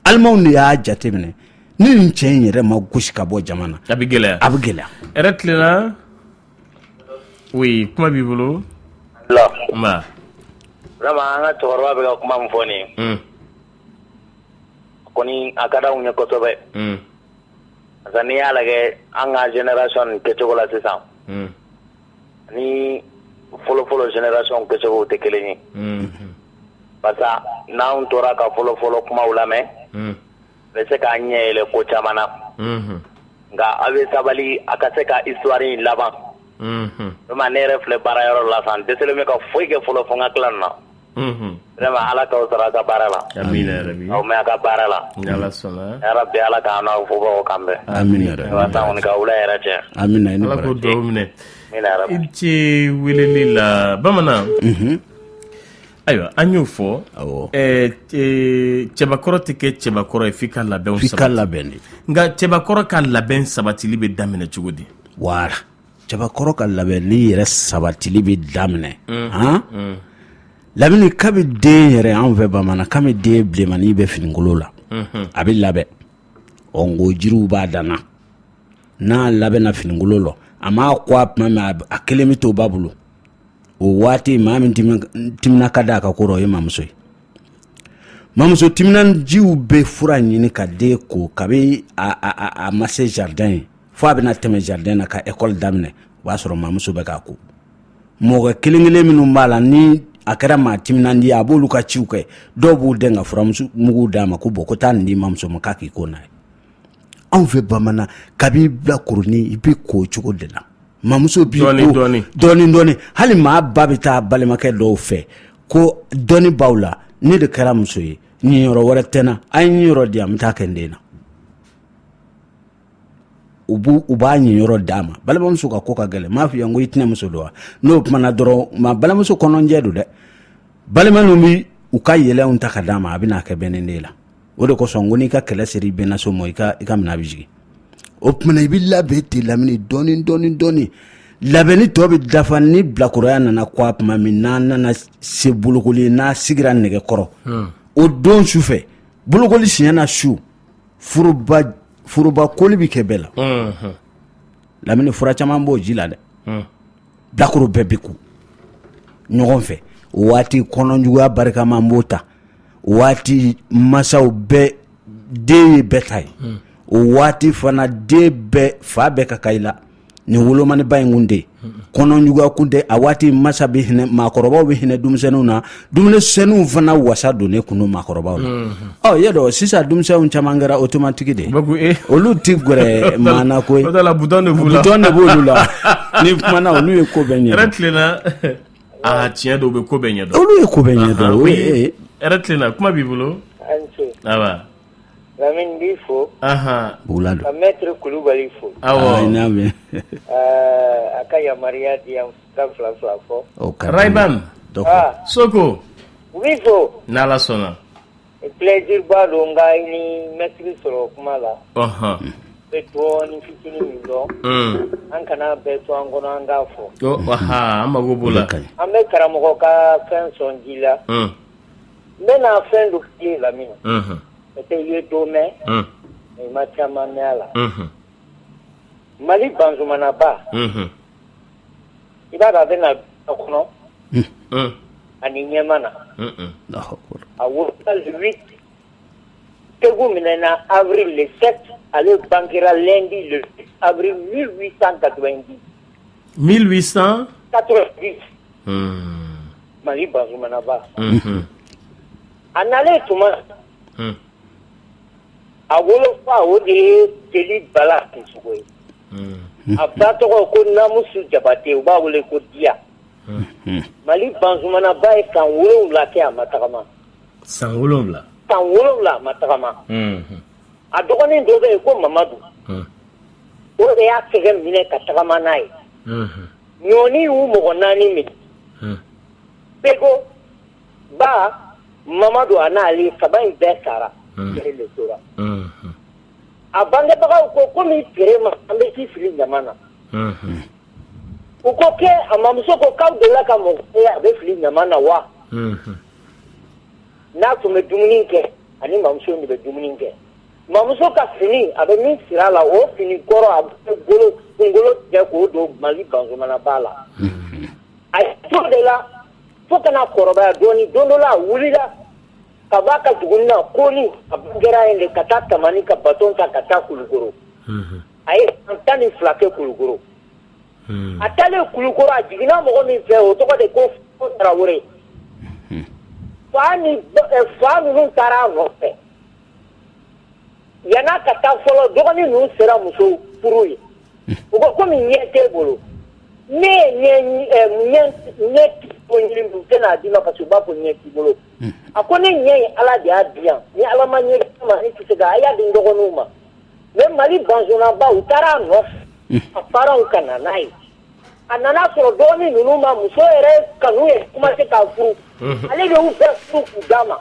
[SPEAKER 2] alimaw de y'a jateminɛ ni nin cɛ in yɛrɛ ma gosi ka bɔ jama na a bɛ gɛlɛya a bɛ gɛlɛya
[SPEAKER 1] yɛrɛ tilenna oui kuma b'i bolo la
[SPEAKER 3] nba vraiment an ka cɛkɔrɔba bɛ ka kuma min fɔ nin ye hmm. kɔni a ka d'anw ye kosɛbɛ hmm. parce que n'i y'a lajɛ an ka génération nin kɛcogo la sisan hmm. ni fɔlɔfɔlɔ génération kɛcogo tɛ kelen ye parce que n'an tora ka fɔlɔfɔlɔ kumaw lamɛn a bɛ se k'an ɲɛ yɛlɛ ko caman na nka aw bɛ sabali a ka se ka histoire in laban vraiment ne yɛrɛ filɛ baarayɔrɔ la sisan n dɛsɛlen bɛ ka foyi kɛ fɔlɔ fo n ka tila nin na ala k'aw sara a
[SPEAKER 1] ka baara
[SPEAKER 3] la amina a
[SPEAKER 2] ka baara la
[SPEAKER 3] ala k'an n'aw
[SPEAKER 2] fobagaw kan
[SPEAKER 1] bɛn i ni ce weleli la bamanan ayiwa an y'o fɔ cɛbakɔrɔ tɛ kɛ cɛbakɔrɔ ye f'i ka labɛn ka sabati nka cɛbakɔrɔ ka labɛn sabatili bɛ daminɛ cogo di
[SPEAKER 2] cɛbakɔrɔ ka labɛnni yɛrɛ sabatili bɛ daminɛ lamini kabi den yɛrɛ an fɛ bamanan kabi den bilenmanin bɛ finikolon la a bɛ labɛn ɔ n ko jiriw b'a danna n'a labɛnna finikolon la a ma ko a tuma na a kelen bɛ to ba bolo o waati maa min timina ka d'a ka ko rɔ o ye mamuso ye mamuso timinandiw bɛ fura ɲini ka den ko kabi a ma se jardin ye fo a bɛna tɛmɛ jardin na ka école daminɛ o b'a sɔrɔ mamuso bɛ k'a ko mɔgɔ kelen kelen minnu b'a la ni a kɛra maa timinandi a b'olu ka ciw kɛ dɔw b'u den ka furamugu muguw d'a ma ko bon ko taa nin di mamuso ma k'a k'i ko n'a ye anw fɛ bamanan kabi bilakoronin i bɛ ko cogo de la mamuso b'i ko dɔɔni dɔɔni hali maa ba bɛ taa balimakɛ dɔw fɛ ko dɔɔni b'aw la ne de kɛra muso ye niyɔrɔ wɛrɛ tɛ n na a ye niyɔrɔ di yan n bɛ taa kɛ n den na u b' u b'a niyɔrɔ d'a ma balimamuso ka ko ka gɛlɛn m'a f'i ye n ko i tɛnɛmuso don wa n'o kumana dɔrɔn maa balimamuso kɔnɔnjɛ don dɛ balima ninnu bɛ u ka yɛlɛw ta ka d'a ma a bɛna kɛ bɛnnen de la o de kosɔn ko n'i ka kɛlɛ sera i bɛnnaso ma i ka i ka minɛn bɛ sigi o tuma na i bɛ labɛn ten Lamini dɔɔni dɔɔni dɔɔni labɛnni tɔ bɛ dafa ni bilakoroya nana ko a tuma min n'a nana se bolokoli n'a sigira nɛgɛkɔrɔ o don su fɛ bolokoli siɲɛna su foroba koli bɛ kɛ bɛɛ la Lamini fura caman b'o ji la dɛ bilakoro bɛɛ bɛ ko ɲɔgɔn fɛ o waati kɔnɔjuguya barika man bon tan o waati masaw bɛɛ den ye bɛɛ ta ye o waati fana den bɛɛ fa bɛɛ ka kan i la ni wolomaniba in kun tɛ kɔnɔjuguya kun tɛ a waati masa bɛ hinɛ maakɔrɔbaw bɛ hinɛ denmisɛnninw na denmisɛnninw fana wasa donnen kun don maakɔrɔbaw la ɔ i y'a dɔn sisan denmisɛnw caman kɛra automatique de olu tɛ gɛrɛ maa na ko butɔn de b'u la n'i kumana olu ye ko bɛɛ
[SPEAKER 1] ɲɛdɔn aa tiɲɛ dɔw bɛ ko bɛɛ ɲɛdɔn olu ye ko bɛɛ
[SPEAKER 2] ɲɛdɔn kuma
[SPEAKER 1] b'i bolo
[SPEAKER 4] B'i fo
[SPEAKER 1] ka
[SPEAKER 2] mɛtiri
[SPEAKER 4] Kulubali fo a ka yamaruya di yan fila fila
[SPEAKER 1] fo so u b'i
[SPEAKER 4] fo n'Ala sɔnna
[SPEAKER 1] plaisir
[SPEAKER 4] ba don n ka i ni mɛtiri sɔrɔ kuma la bɛ dɔɔnin fitinin min dɔn an kana bɛɛ to an kɔnɔ an k'a fɔ an mako b'o
[SPEAKER 1] la an bɛ karamɔgɔ
[SPEAKER 4] ka fɛn sɔn ji la n bɛna fɛn dɔ f'i ye Lamini, unhun, peut-être i ye dɔ mɛn, un, mais i ma caman mɛn a la, unhun, Mali Banzumanaba, unhun, i b'a dɔn a bɛna a kɔnɔ, un, ani ɲɛman na, un un, Alahu akibaru, a wolola le 8 Segu minɛna avril le 7 ale bangera lundi le 8 avril 1890 Mali Banzumanaba a nalen tuma a wolofa o de ye Jeli Bala Sisɔkɔ ye a ba tɔgɔ ko Namusu Jabate u b'a wele ko Diya Mali Banzumanaba ye san wolonwula kɛ a ma tagama san
[SPEAKER 1] wolonwula san wolonwula a
[SPEAKER 4] ma tagama a dɔgɔnin dɔ bɛ yen ko mamadu o de y'a tɛgɛ minɛ ka tagama n'a ye ɲɔɔni y'u mɔgɔ naani minɛ beko ba mamadu a n'ale saba in bɛɛ sara ale de tora a bangebagaw ko komi terema an bɛ t'i fili ɲama na u ko kɛ a mamuso ko k'aw delila ka mɔgɔ ye a bɛ fili ɲama na wa n'a tun bɛ dumuni kɛ a ni mamuso in de bɛ dumuni kɛ mamuso ka fini a bɛ min siri a la o fini kɔrɔ a b'o kunkolo tigɛ k'o don Mali Banzumanaba la a y'i t'o de la fo ka na kɔrɔbaya dɔɔnin don dɔ la a wulila ka bɔ a ka dugunin na Koni a bangera yen de ka taa Tamani ka baton ta ka taa Kulukoro a ye san tan ni fila kɛ Kulukoro. a taalen kulukoro a jiginna mɔgɔ min fɛ o tɔgɔ de ko tarawele fa ni fa ninnu taara a nɔfɛ yan'a ka taa fɔlɔ dɔgɔnin ninnu sera muso furu ye u ko kɔmi ɲɛ t'e bolo ne ɲɛ tɛna d'i ma parce que u b'a fɔ ɲɛ t'i bolo a ko ne ɲɛ ye ala de y'a di yan ni ala ma ɲɛ ma ne tɛ se a y'a di n dɔgɔninw ma Mais Mali Banzumanaba u taara a nɔfɛ, unhun, a parents ka na n'a ye, a nana sɔrɔ dɔgɔnin ninnu ma muso yɛrɛ kanu yɛrɛ commencer ka furu, unhun, ale de y'u bɛɛ furu k'u d'a ma,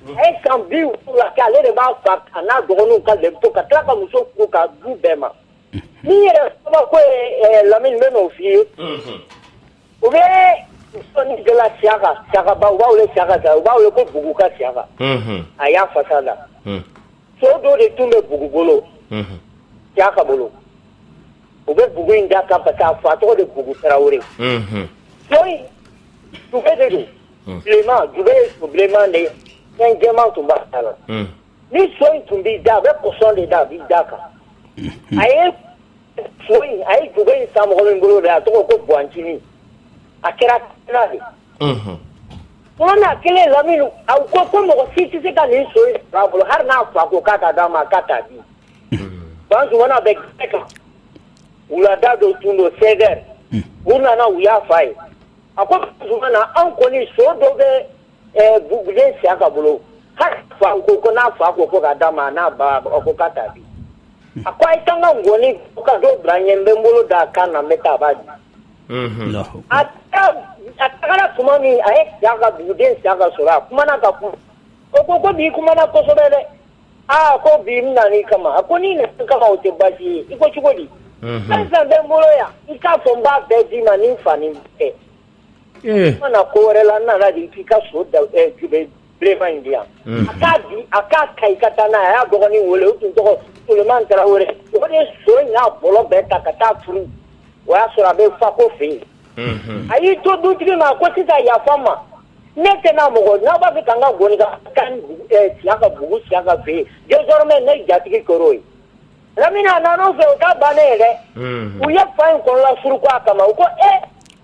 [SPEAKER 4] unhun, a ye san bi fila kɛ ale de b'a fa a n'a dɔgɔninw ka l'impôt ta ka tila ka muso furu k'a d'u bɛɛ ma, unhun, min yɛrɛ ye kabako ye Lamini n bɛ n'o f'i ye, unhun U bɛ dala siyaka ba u b'a wele siyaka u b'a wele ko bugu ka siyaka a y'a fasa la so dɔ de tun bɛ bugu bolo siyaka bolo u bɛ bugu in d'a kan parce que a fa tɔgɔ de bugu tarawele so in jube de don bilenma jube ye so bilenma de ye fɛn jɛma tun b'a ten na ni so in tun b'i da a bɛ koso de da a b'i d'a kan a A ye jube in san mɔgɔ min bolo de a tɔgɔ ko bacinin a kɛra de n'a kelen lamini a ko ko mɔgɔ si tɛ se ka nin so in sɔrɔ a bolo hali n'a fa ko k'a ka d'a ma k'a t'a di banzumana bɛ kɛnɛ kan wulada dɔ tun don seize heures u nana u y'a f'a ye a ko banzumana anw kɔni so dɔ bɛ buguden siyaka bolo hali fa ko n'a fa ko k'a d'a ma n'a ba ko k'a t'a di A ko a ye taa n ka nkɔni ka dɔ bila n ɲɛ n bɛ n bolo da a kan na n bɛ taa a b'a di a taara tuma min a ye siyaka buguden siyaka sɔrɔ a kumana ka kuma o ko ko bi kumana kosɛbɛ dɛ aa ko bi n nan'i kama a ko n'i nana kama o tɛ baasi ye i ko cogo di fɛn fɛn bɛ n bolo yan i k'a fɔ n b'a bɛɛ d'i ma ni n fa kɛ Ee n ma na ko wɛrɛ la n nana de k'i ka so da ɛ jube bilenman in di yan a k'a di a k'a ka i ka taa n'a ye a y'a dɔgɔnin wele o tun tɔgɔ Suleman Tarawele o de ye so in n'a bɔlɔ bɛɛ ta ka taa turu o y'a sɔrɔ a bɛ Fako fɛ yen a y'i to dutigi ma a ko sisan yafa n ma ne tɛna mɔgɔ n'aw b'a fɛ ka n ka ngɔni ka taa ni bugu ɛ Siyakabugu Siyaka fɛ yen désormais ne jatigi kɛr'o ye Lamini a nan'u fɛ o ta bannen ye dɛ u ye fa in kɔnɔlafuru ko a kama u ko ee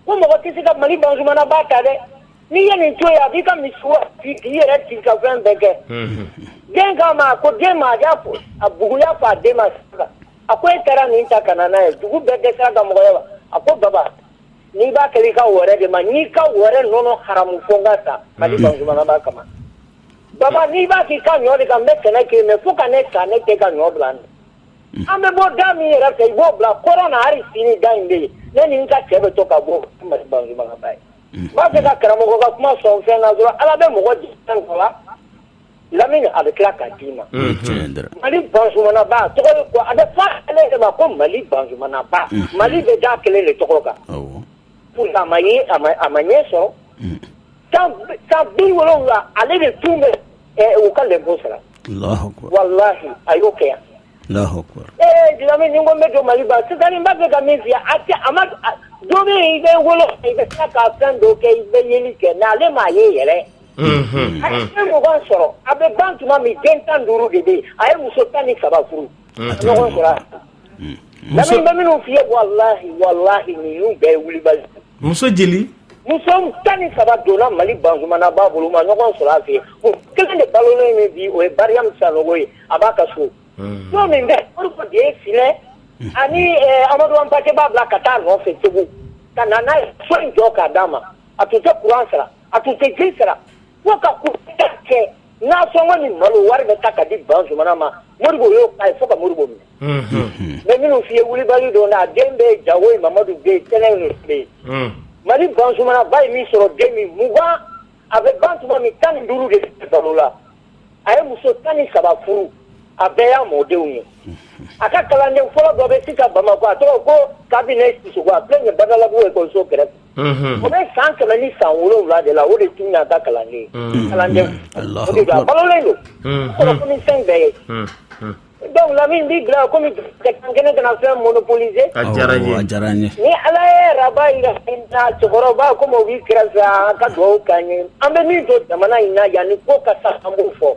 [SPEAKER 4] Ko mɔgɔ tɛ se ka Mali Banzumana ba ta dɛ n'i ye nin to yen a b'i ka misi yɛrɛ ka fɛn bɛɛ kɛ den ma ko den ma a bugu y'a fɔ a den ma a ko e taara min ta ka na n'a ye dugu bɛɛ kɛ ka mɔgɔ ye wa a ko baba n'i b'a kɛ i ka wɛrɛ de ma n'i ka wɛrɛ nɔnɔ haramu fo n ka sa Mali Banzumana ba kama baba n'i b'a k'i ka ɲɔ de kan n bɛ sɛnɛ kɛ mɛ fo ka ne sa ne tɛ ka ɲɔ bila An bɛ bɔ da min yɛrɛ fɛ i b'o bila kɔrɔn na hali sini da in bɛ yen ne ni n ka cɛ bɛ to ka bɔ Mali Banzumana ba ye, unhun, n b'a fɛ ka karamɔgɔ ka kuma sɔn fɛn na dɔrɔn Ala bɛ mɔgɔ di fɛn dɔ la Lamini a bɛ tila k'a d'i ma, o ye tiɲɛ ye dɛ, Mali Banzumana ba tɔgɔ ye ko a bɛ fɔ ale yɛrɛ de ma ko Mali bankebagaba, unhun, Mali bɛ d'a kelen de tɔgɔ kan, awɔ, pourtant a ma ye a ma ɲɛ sɔrɔ, unhun, san bi wolonwula ale de tun bɛ U ka lɛnpo sara walahi a y'o kɛ yan ee Lamini ni n ko n bɛ don Mali ba sisan n b'a fɛ ka min f'i ye a maa dɔ bɛ yen i bɛ wolo i bɛ tila ka fɛn dɔ kɛ i bɛ yeli kɛ mais ale ma ye yɛrɛ a ye den mugan sɔrɔ a bɛ ban tuma min den tan ni duuru de bɛ yen a ye muso tan ni saba furu Muso Lamini n bɛ minnu f'i ye walahi walahi ninnu bɛɛ wulibali muso
[SPEAKER 1] jeli muso tan ni
[SPEAKER 4] saba donna Mali Banzumana ba bolo ma ɲɔgɔn sɔrɔ a fɛ kelen de balolen min bi o ye Mariam Sanogo ye a b'a ka so so min bɛ Modibo de ye Filɛ ani Amadu Anpate Ba bila ka taa nɔfɛ Segu ka na n'a ye so in jɔ k'a d'a ma a tun tɛ kuran sara a tun tɛ ji sara ka kɛ Nasɔngɔ ni malo wari bɛ ta ka di Banzumana ma Modibo y'o k'a ye fo ka Modibo minɛ mais minnu f'i ye wulibali don a den bɛ Jago ye Mamadu bɛ yen Tɛnɛ bɛ yen Mali Banzumana ba ye min sɔrɔ den min mugan a bɛ ban tuma min tan ni duuru de bɛ balo la a ye muso tan ni saba furu a bɛɛ y'a mɔdenw ye a ka kalanden fɔlɔ dɔ bɛ sisan Bamakɔ a tɔgɔ ko Kabinɛ Sisɔkɔ a filɛ nin ye Badalabugu ekɔliso kɛrɛfɛ Unhun, o bɛ san kɛmɛ ni san wolonwula de la, o de tun y'a ka kalanden ye, unhun, kalanden, Alahu akibaru, a balolen don, unhun, kɔrɔfɔli ni fɛn bɛɛ ye, unhun, donc Lamini n b'i bila la komi jamukan kɛnɛ kana fɛn monopoliser a diyara n ye, awɔ, a
[SPEAKER 1] diyara n ye, ni Ala ye
[SPEAKER 4] araba jira an na, cɛkɔrɔba komi o b'i kɛrɛfɛ yan, a ka dugawu k'an ye, an bɛ min dɔn jamana in na yanni ko ka sa an b'o fɔ.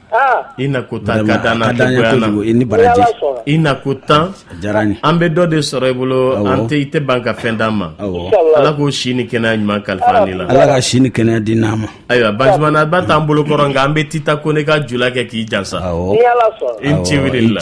[SPEAKER 1] I na ko tan ka d'an na i ni
[SPEAKER 2] baraji i na ko
[SPEAKER 1] tan diyara n ye an bɛ dɔ
[SPEAKER 2] de sɔrɔ i bolo
[SPEAKER 1] an tɛ i tɛ ban ka fɛn d'an ma ala k'o si ni kɛnɛya ɲuman kalifa ne la ala ka si ni kɛnɛya
[SPEAKER 2] di n'an ma ayiwa Banzumana
[SPEAKER 1] ba t'an bolo kɔrɔ nka an bɛ Tita Kone ka Julakɛ k'i
[SPEAKER 4] jansa i ni ce wuli
[SPEAKER 1] la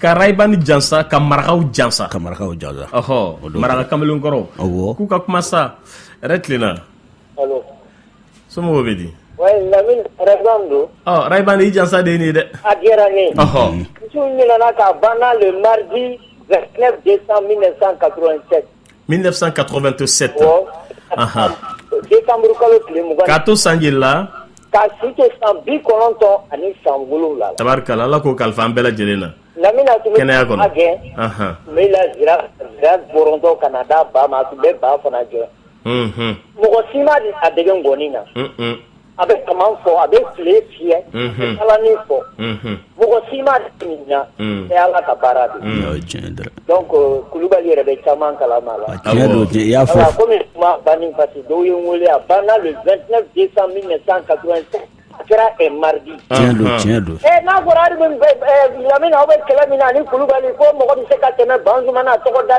[SPEAKER 1] Ka Raybani jansa ka marakaw jansa ka marakaw jansa ɔɔ maraka kamalen kɔrɔ k'u ka kuma sa yɛrɛ tilenna
[SPEAKER 4] allo somɔgɔw
[SPEAKER 1] bɛ di
[SPEAKER 4] ouais Lamini Rayban don Raybani i
[SPEAKER 1] jansa de nin dɛ a diyara ne
[SPEAKER 4] ɔɔ misiw
[SPEAKER 1] ɲɛna
[SPEAKER 4] ka banna le mardi 29 décembre 1987
[SPEAKER 1] 1987
[SPEAKER 4] awɔ anhan desanburu kalo tile mugan k'a to san joli la
[SPEAKER 1] k'a si to
[SPEAKER 4] san bi kɔnɔntɔn ani san wolonwula la tabarikala Ala k'o kalifa
[SPEAKER 1] an bɛɛ lajɛlen na Lamini a tun bɛ
[SPEAKER 4] kɛnɛya kɔnɔ kuma
[SPEAKER 1] gɛn
[SPEAKER 4] anhan n bɛ la zira zira bɔrɔntɔ ka na d'a ba ma a tun bɛ ba fana gɛn unhun mɔgɔ si ma a dege ngɔni na un-un a bɛ tama fɔ a bɛ file fiyɛ balanin fɔ mɔgɔ si ma e ala ka baara de donc kulubali yɛrɛ bɛ caman kalama i y'a fɔ
[SPEAKER 2] kɔmi banni
[SPEAKER 4] parce que dɔw ye n weele a banna le 29 décembre 1987 a kɛra un mardi n'a
[SPEAKER 2] fɔra
[SPEAKER 4] Lamini aw bɛ kɛlɛ min na ani kulubali ko mɔgɔ bɛ se ka tɛmɛ Banzumana tɔgɔ da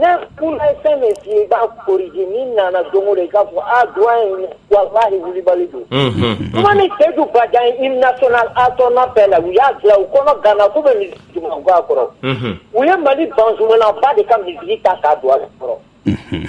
[SPEAKER 4] Ne kun ye fɛn min f'i ye i b'a corriger n'i nana don o don i k'a fɔ aa doyen walahi Wilibali don, unhun, kuma ni Seyidu Bajan ye hymne national à ton appel la u y'a dilan u kɔnɔ ganna k'u bɛ musique jumɛn k'a kɔrɔ, unhun, u ye Mali Banzumana ba de ka musique ta k'a don a kɔrɔ, unhun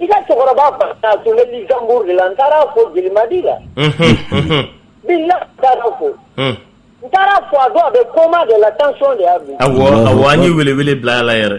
[SPEAKER 4] I ka cɛkɔrɔba fana tun bɛ Luxembourg de la n taara fo Jelimadi la bi n taara fo n taara fo a dɔn a bɛ coma de la tension de y'a bin awɔ an ye
[SPEAKER 1] welewele bila a la yɛrɛ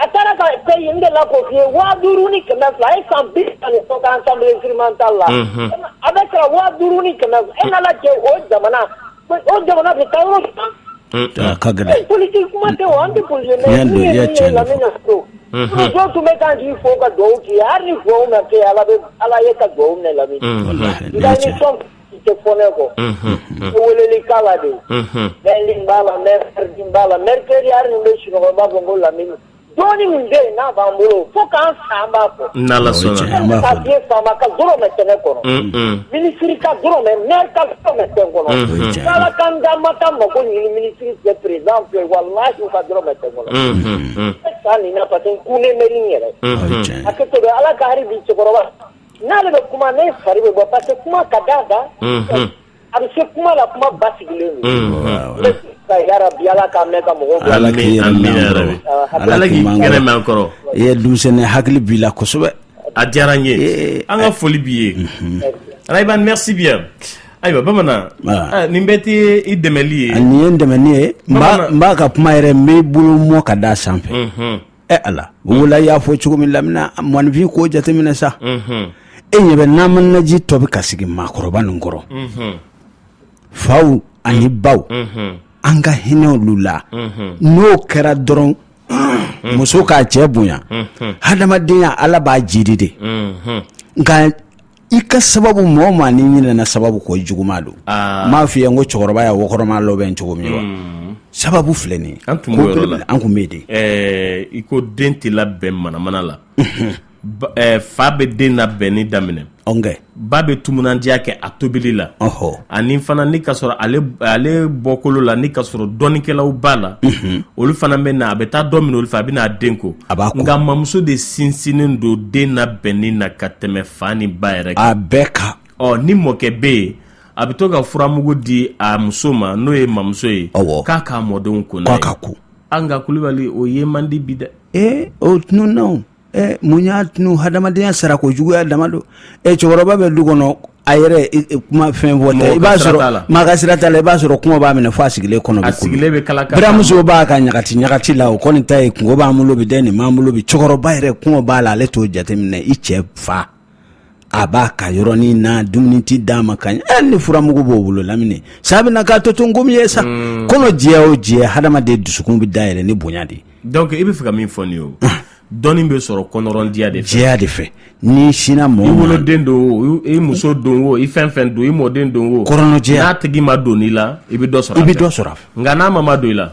[SPEAKER 2] a
[SPEAKER 4] taara ka paie de la ko fo waa duuru ni kɛmɛ fila e san bi naani fɔ ka ensemble instrumental la a bɛ sara waa duuru ni kɛmɛ e ɲɛ na cɛ o jamana O jamana bɛ taa yɔrɔ jumɛn? Un un, a
[SPEAKER 2] ka gɛlɛn, politique
[SPEAKER 4] kuma tɛ o, an tɛ politique mɛn, tiɲɛ don, i ye tiɲɛ de
[SPEAKER 2] fɔ,
[SPEAKER 4] unhun, dɔ tun bɛ k'an sigi fo ka dugawu k'i ye, hali ni dugawu ma kɛ Ala bɛ Ala y'i ka dugawu minɛ Lamini, unhun,
[SPEAKER 2] walahi, nin
[SPEAKER 4] ye tiɲɛ ye, nka ni fɛn min tɛ fɔ ne kɔ, unhun, n bɛ weleli k'a la de, unhun, lundi n b'a la, mardi b'a la, mercredi hali ni n bɛ sunɔgɔ n b'a fɔ ko Lamini dɔɔni min bɛ yen n'a b'an bolo fo k'an sanba ko. n'ala
[SPEAKER 1] sɔnna. ka diɲɛ
[SPEAKER 4] faama ka dɔrɔmɛ tɛ ne kɔnɔ. minisiri ka dɔrɔmɛ mɛri ka dɔrɔmɛ tɛ ne kɔnɔ. n'ala ka n da n ma taa mako ɲini minisiri fɛ président fɛ walahi u ka dɔrɔmɛ tɛ ne kɔnɔ. ne san nin na parce que n kunnen bɛ ni n yɛrɛ. a kɛ to ala ka hali bi cɛkɔrɔba n'ale bɛ kuma ne fari bɛ bɔ parce que kuma ka d'a da. A bɛ se kuma la kuma
[SPEAKER 2] basigilen yarabi
[SPEAKER 1] Ala k'a mɛn k'a mɔ Ala k'i kɛnɛ mɛn encore i ye dusu
[SPEAKER 2] ni hakili bila kosɛbɛ a diyara n ye
[SPEAKER 1] an ka foli b'i ye Rayban merci bien ayiwa bamanan nin bɛɛ tɛ i dɛmɛli ye nin ye dɛmɛ ye
[SPEAKER 2] n b'a ka kuma yɛrɛ n bɛ bolo mɔ ka d da a sanfɛ ɛ ala wula y'a fɔ cogo min Lamini maaninfin k'o jateminɛ sa e ɲɛ bɛ n'manaji tɔ bɛ ka sigi maakɔrɔba ninnu kɔrɔ faw ani baw an ka hinɛ olu la n'o kɛra dɔrɔn muso k'a cɛ bonya hadamadenya ala b'a jiidi dɛ nka i ka sababu mɔgɔ maa n'i ɲinɛna sababu kɔ juguman don ah. m'a f'i ye n ko cɛkɔrɔba ye wɔkɔrɔma labɛn cogo min wa hmm. sababu filɛ nin an tun an
[SPEAKER 1] tun bɛ den
[SPEAKER 2] eh, i
[SPEAKER 1] ko den tɛ labɛn manamana la eh, fa bɛ den labɛnni daminɛ ba bɛ timinandiya kɛ a tobili la ani fana ni ka sɔrɔ ale bɔkolo la ni ka sɔrɔ dɔnnikɛlaw b'a la olu fana bɛ na a bɛ taa dɔ min olu fɛ a bɛ n'a den ko a b'a nka mamuso de sinsinnen don den labɛnni na ka tɛmɛ fa ni ba yɛrɛ a bɛɛ kan
[SPEAKER 2] ɔ ni mɔkɛ
[SPEAKER 1] bɛ yen a bɛ to ka furamugu di a muso ma n'o ye mamuso ye k'a k'a mɔdenw ko k'a ka ko nka Kulubali o ye man di bi dɛ ee o tununna
[SPEAKER 2] ɛ mun y'a tunu hadamadenya sara ko juguya dama don ɛ cɛkɔrɔba bɛ du kɔnɔ a yɛrɛ e- e- kuma fɛn fɔ tɛ i b'a sɔrɔ maa ka sira t'a la i b'a sɔrɔ kɔngɔ b'a minɛ fo a sigilen kɔnɔ a sigilen bɛ kala
[SPEAKER 1] kala buranmuso b'a ka
[SPEAKER 2] ɲagati ɲagati la o kɔni ta ye kunko b'an bolo bi dɛ nin b'an bolo bi cɛkɔrɔba yɛrɛ kɔngɔ b'a la ale t'o jateminɛ i cɛ fa a b'a ka yɔrɔnin na dumuni tɛ d'a ma ka ɲɛ hali ni furamugu b'o bolo Lamini sa bɛna k'a to to nkomi ye sa hmm. kɔnɔ jɛ o jɛ hadamaden dusukun bɛ dayɛlɛ ni bonya de ye donc i bɛ fɛ ka min
[SPEAKER 1] fɔ nin ye o dɔnni bɛ sɔrɔ kɔnɔrɔndiya de fɛ jɛya de fɛ
[SPEAKER 2] ni sina mɔɔ i woloden don
[SPEAKER 1] o i muso don o i fɛn fɛn don i mɔden don o kɔnɔrɔjɛya n'a tigi
[SPEAKER 2] madon i
[SPEAKER 1] la i bɛ dɔ sɔrɔ a fɛ i bɛ dɔ sɔrɔ a fɛ nka n'a ma madon i la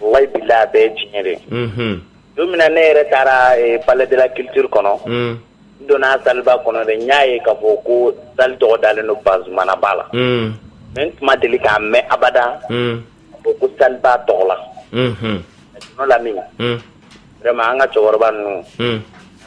[SPEAKER 3] Walayi bilahi a bɛɛ ye tiɲɛ de ye, unhun, don min na ne yɛrɛ taara palais de la culture kɔnɔ, un, n donna salle ba kɔnɔ dɛ, n y'a ye k'a fɔ ko salle tɔgɔ dalen don Bazumana ba la, un, mais n tun ma deli k'a mɛn abada, un, k'a fɔ ko salle ba tɔgɔ la, unhun, sinon Lamini, un, vraiment an ka cɛkɔrɔba ninnu, un,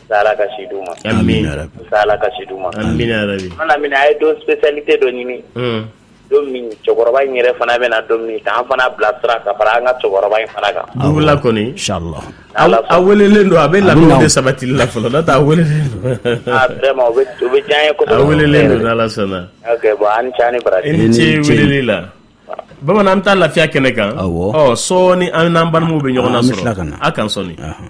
[SPEAKER 3] yarabi Ala ka si d'u ma, amina
[SPEAKER 1] yarabi, Ala
[SPEAKER 3] ka si d'u ma, amina yarabi, sinon Lamini
[SPEAKER 1] a ye don
[SPEAKER 3] spécialité dɔ ɲini, un don min cɛkɔrɔba in yɛrɛ fana bɛna don min ta an fana bila sira ka fara an ka cɛkɔrɔba in fana kan an wulila kɔni inchallah
[SPEAKER 1] Ala sɔnna.
[SPEAKER 2] a welelen
[SPEAKER 1] don a bɛ labɛnw de sabatili la fɔlɔ n'o tɛ a welelen don ah vraiment o bɛ
[SPEAKER 3] o bɛ diya n ye kosɛbɛ a welelen don n'Ala
[SPEAKER 1] sɔnna ok bon a ni ce a
[SPEAKER 3] ni baraji i ni ce ni ce.
[SPEAKER 1] weleli la bamanan an bɛ taa lafiya kɛnɛ kan Awɔ. ɔ sɔɔni
[SPEAKER 2] an n'an
[SPEAKER 1] balimaw bɛ ɲɔgɔn Ah, an bɛ lasɔrɔ tila ka na. a kan sɔɔni Ahan.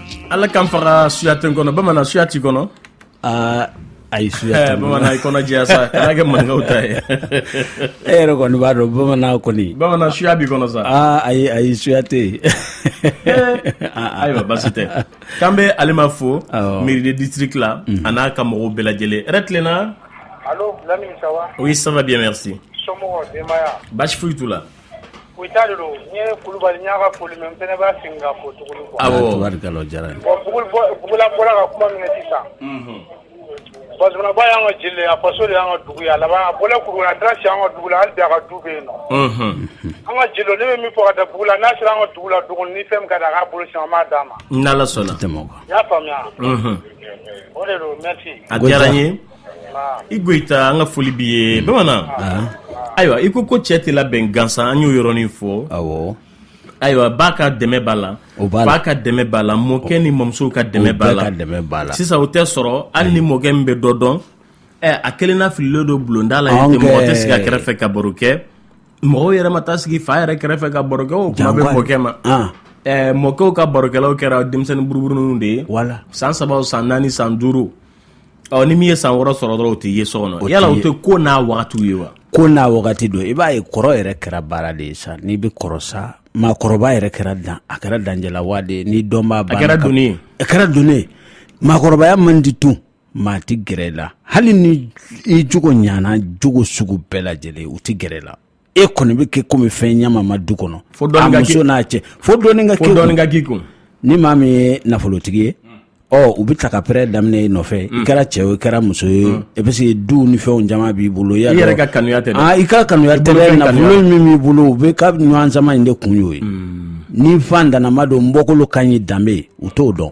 [SPEAKER 1] Ala k'an faga suya tɛ n kɔnɔ bamanan suya t'i kɔnɔ
[SPEAKER 2] aa ayi suya bamanan i kɔnɔ jɛya
[SPEAKER 1] sa kana kɛ maninkaw ta ye e yɛrɛ
[SPEAKER 2] kɔni b'a dɔn bamanan kɔni bamanan suya b'i kɔnɔ sa
[SPEAKER 1] aa ayi ayi suya
[SPEAKER 2] tɛ yen
[SPEAKER 1] ayiwa basi tɛ k'an bɛ Alima fo mairie de district la a n'a ka mɔgɔw bɛɛ lajɛlen hɛrɛ tilenna
[SPEAKER 5] allô oui ça va bien merci basi foyi t'u la
[SPEAKER 1] Goyita de
[SPEAKER 5] don n ye kulubali n y'a ka foli mɛ n fana b'a segin ka fo tuguni quoi Awɔ. Tabarikala, o
[SPEAKER 1] diyara n ye.
[SPEAKER 2] bon Bugula bɔ- Bugula
[SPEAKER 5] bɔra ka kuma min kɛ sisan Unhun. Bazumanaba y'an ka jeli de ye, a faso de y'an ka dugu ye a laban a bɔla Kulukɔrɔ a taara sigi an ka dugu la hali bi a ka du bɛ yen nɔ Unhun. an ka jeli ne bɛ min fɔ ka da Bugula n'a sera an ka dugu la duguni ni fɛn min ka di a k'a bolo sisan an b'a d'a ma N'Ala sɔnna. Tɛmɛ
[SPEAKER 1] o kan. i y'a faamuya
[SPEAKER 5] Unhun. o de don merci A diyara n ye.
[SPEAKER 1] i goyita an ka foli b'i ye bamanan ayiwa i ko ko cɛ tɛ labɛn gansan an y'o yɔrɔnin fɔ ayiwa
[SPEAKER 2] ba
[SPEAKER 1] ka dɛmɛ b'a la ba ka dɛmɛ b'a la mɔkɛ ni mɔmusow ka dɛmɛ b'a la sisan o tɛ sɔrɔ hali ni mɔkɛ min bɛ dɔ dɔn a kelenna fililen don bulonda la yen mɔgɔ tɛ sigi a kɛrɛfɛ ka baro kɛ mɔgɔw yɛrɛ ma taa sigi fa yɛrɛ kɛrɛfɛ ka baro kɛ o kuma bɛ mɔkɛ ma mɔkɛw ka barokɛlaw kɛra denmisɛnnin buruburuninw de ye san saba
[SPEAKER 2] san naani
[SPEAKER 1] san duuru Ɔ ni min ye san wɔɔrɔ sɔrɔ dɔrɔn o tɛ ye so kɔnɔ yala o tɛ ko n'a waatiw ye wa ko n'a
[SPEAKER 2] wagati don i b'a ye kɔrɔ yɛrɛ kɛra baara de ye sa n'i bɛ kɔrɔ sa maakɔrɔba yɛrɛ kɛra dan a kɛra danger là wa de ye ni doniba a kɛra doni ye a kɛra doni ye maakɔrɔbaya man di tun maa tɛ gɛrɛ la hali ni i jogo ɲana jogo sugu bɛɛ lajɛlen u tɛ gɛrɛ la e kɔni bɛ kɛ komi fɛn ɲamanma du kɔnɔ a muso n'a cɛ fo dɔɔni ka dɔɔni ka k'i kun ni maa min ye nafolotigi ye ɔ u bɛ taa ka pɛrɛ daminɛ i nɔfɛ i mm. kɛra cɛ o i kɛra muso ye mm. parce que du ni fɛn caman b'i bolo i yɛrɛ ka kanuya tɛ
[SPEAKER 1] ah, i ka kanuya
[SPEAKER 2] tɛ nafolo min b'i bolo u bɛ ka ɲɔgɔn sama in de kun y'o ye mm. ni faantannama don n bɔkolo ka ɲi danbe u t'o dɔn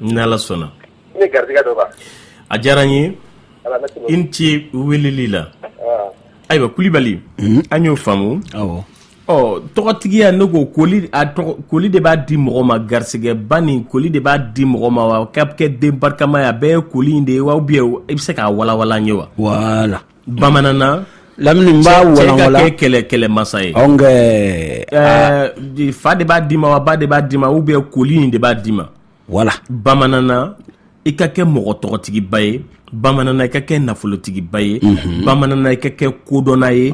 [SPEAKER 4] N'Ala
[SPEAKER 1] sɔnna ni garijɛgɛ
[SPEAKER 4] don a diyara n ye
[SPEAKER 1] i ni ce weleli la ayiwa kulibali an y'o faamu
[SPEAKER 2] ɔ
[SPEAKER 1] tɔgɔtigiya ne ko koli koli de b'a di mɔgɔ ma garisɛgɛba nin koli de b'a di mɔgɔ ma wa ka kɛ den barikama ye a bɛɛ ye koli de ye wa ou bien i bɛ se k'a walawala n ye wa voilà bamanan
[SPEAKER 2] lamini b'a walawala cɛ ka kɛ kɛlɛmasa
[SPEAKER 1] ye fa de b'a d'i ma wa ba de b'a d'i ma ou bien koli in de b'a d'i ma voilà bamanan i ka kɛ mɔgɔ tɔgɔtigiba ye bamanan i ka kɛ nafolotigiba ye bamanan i ka kɛ kodɔnna ye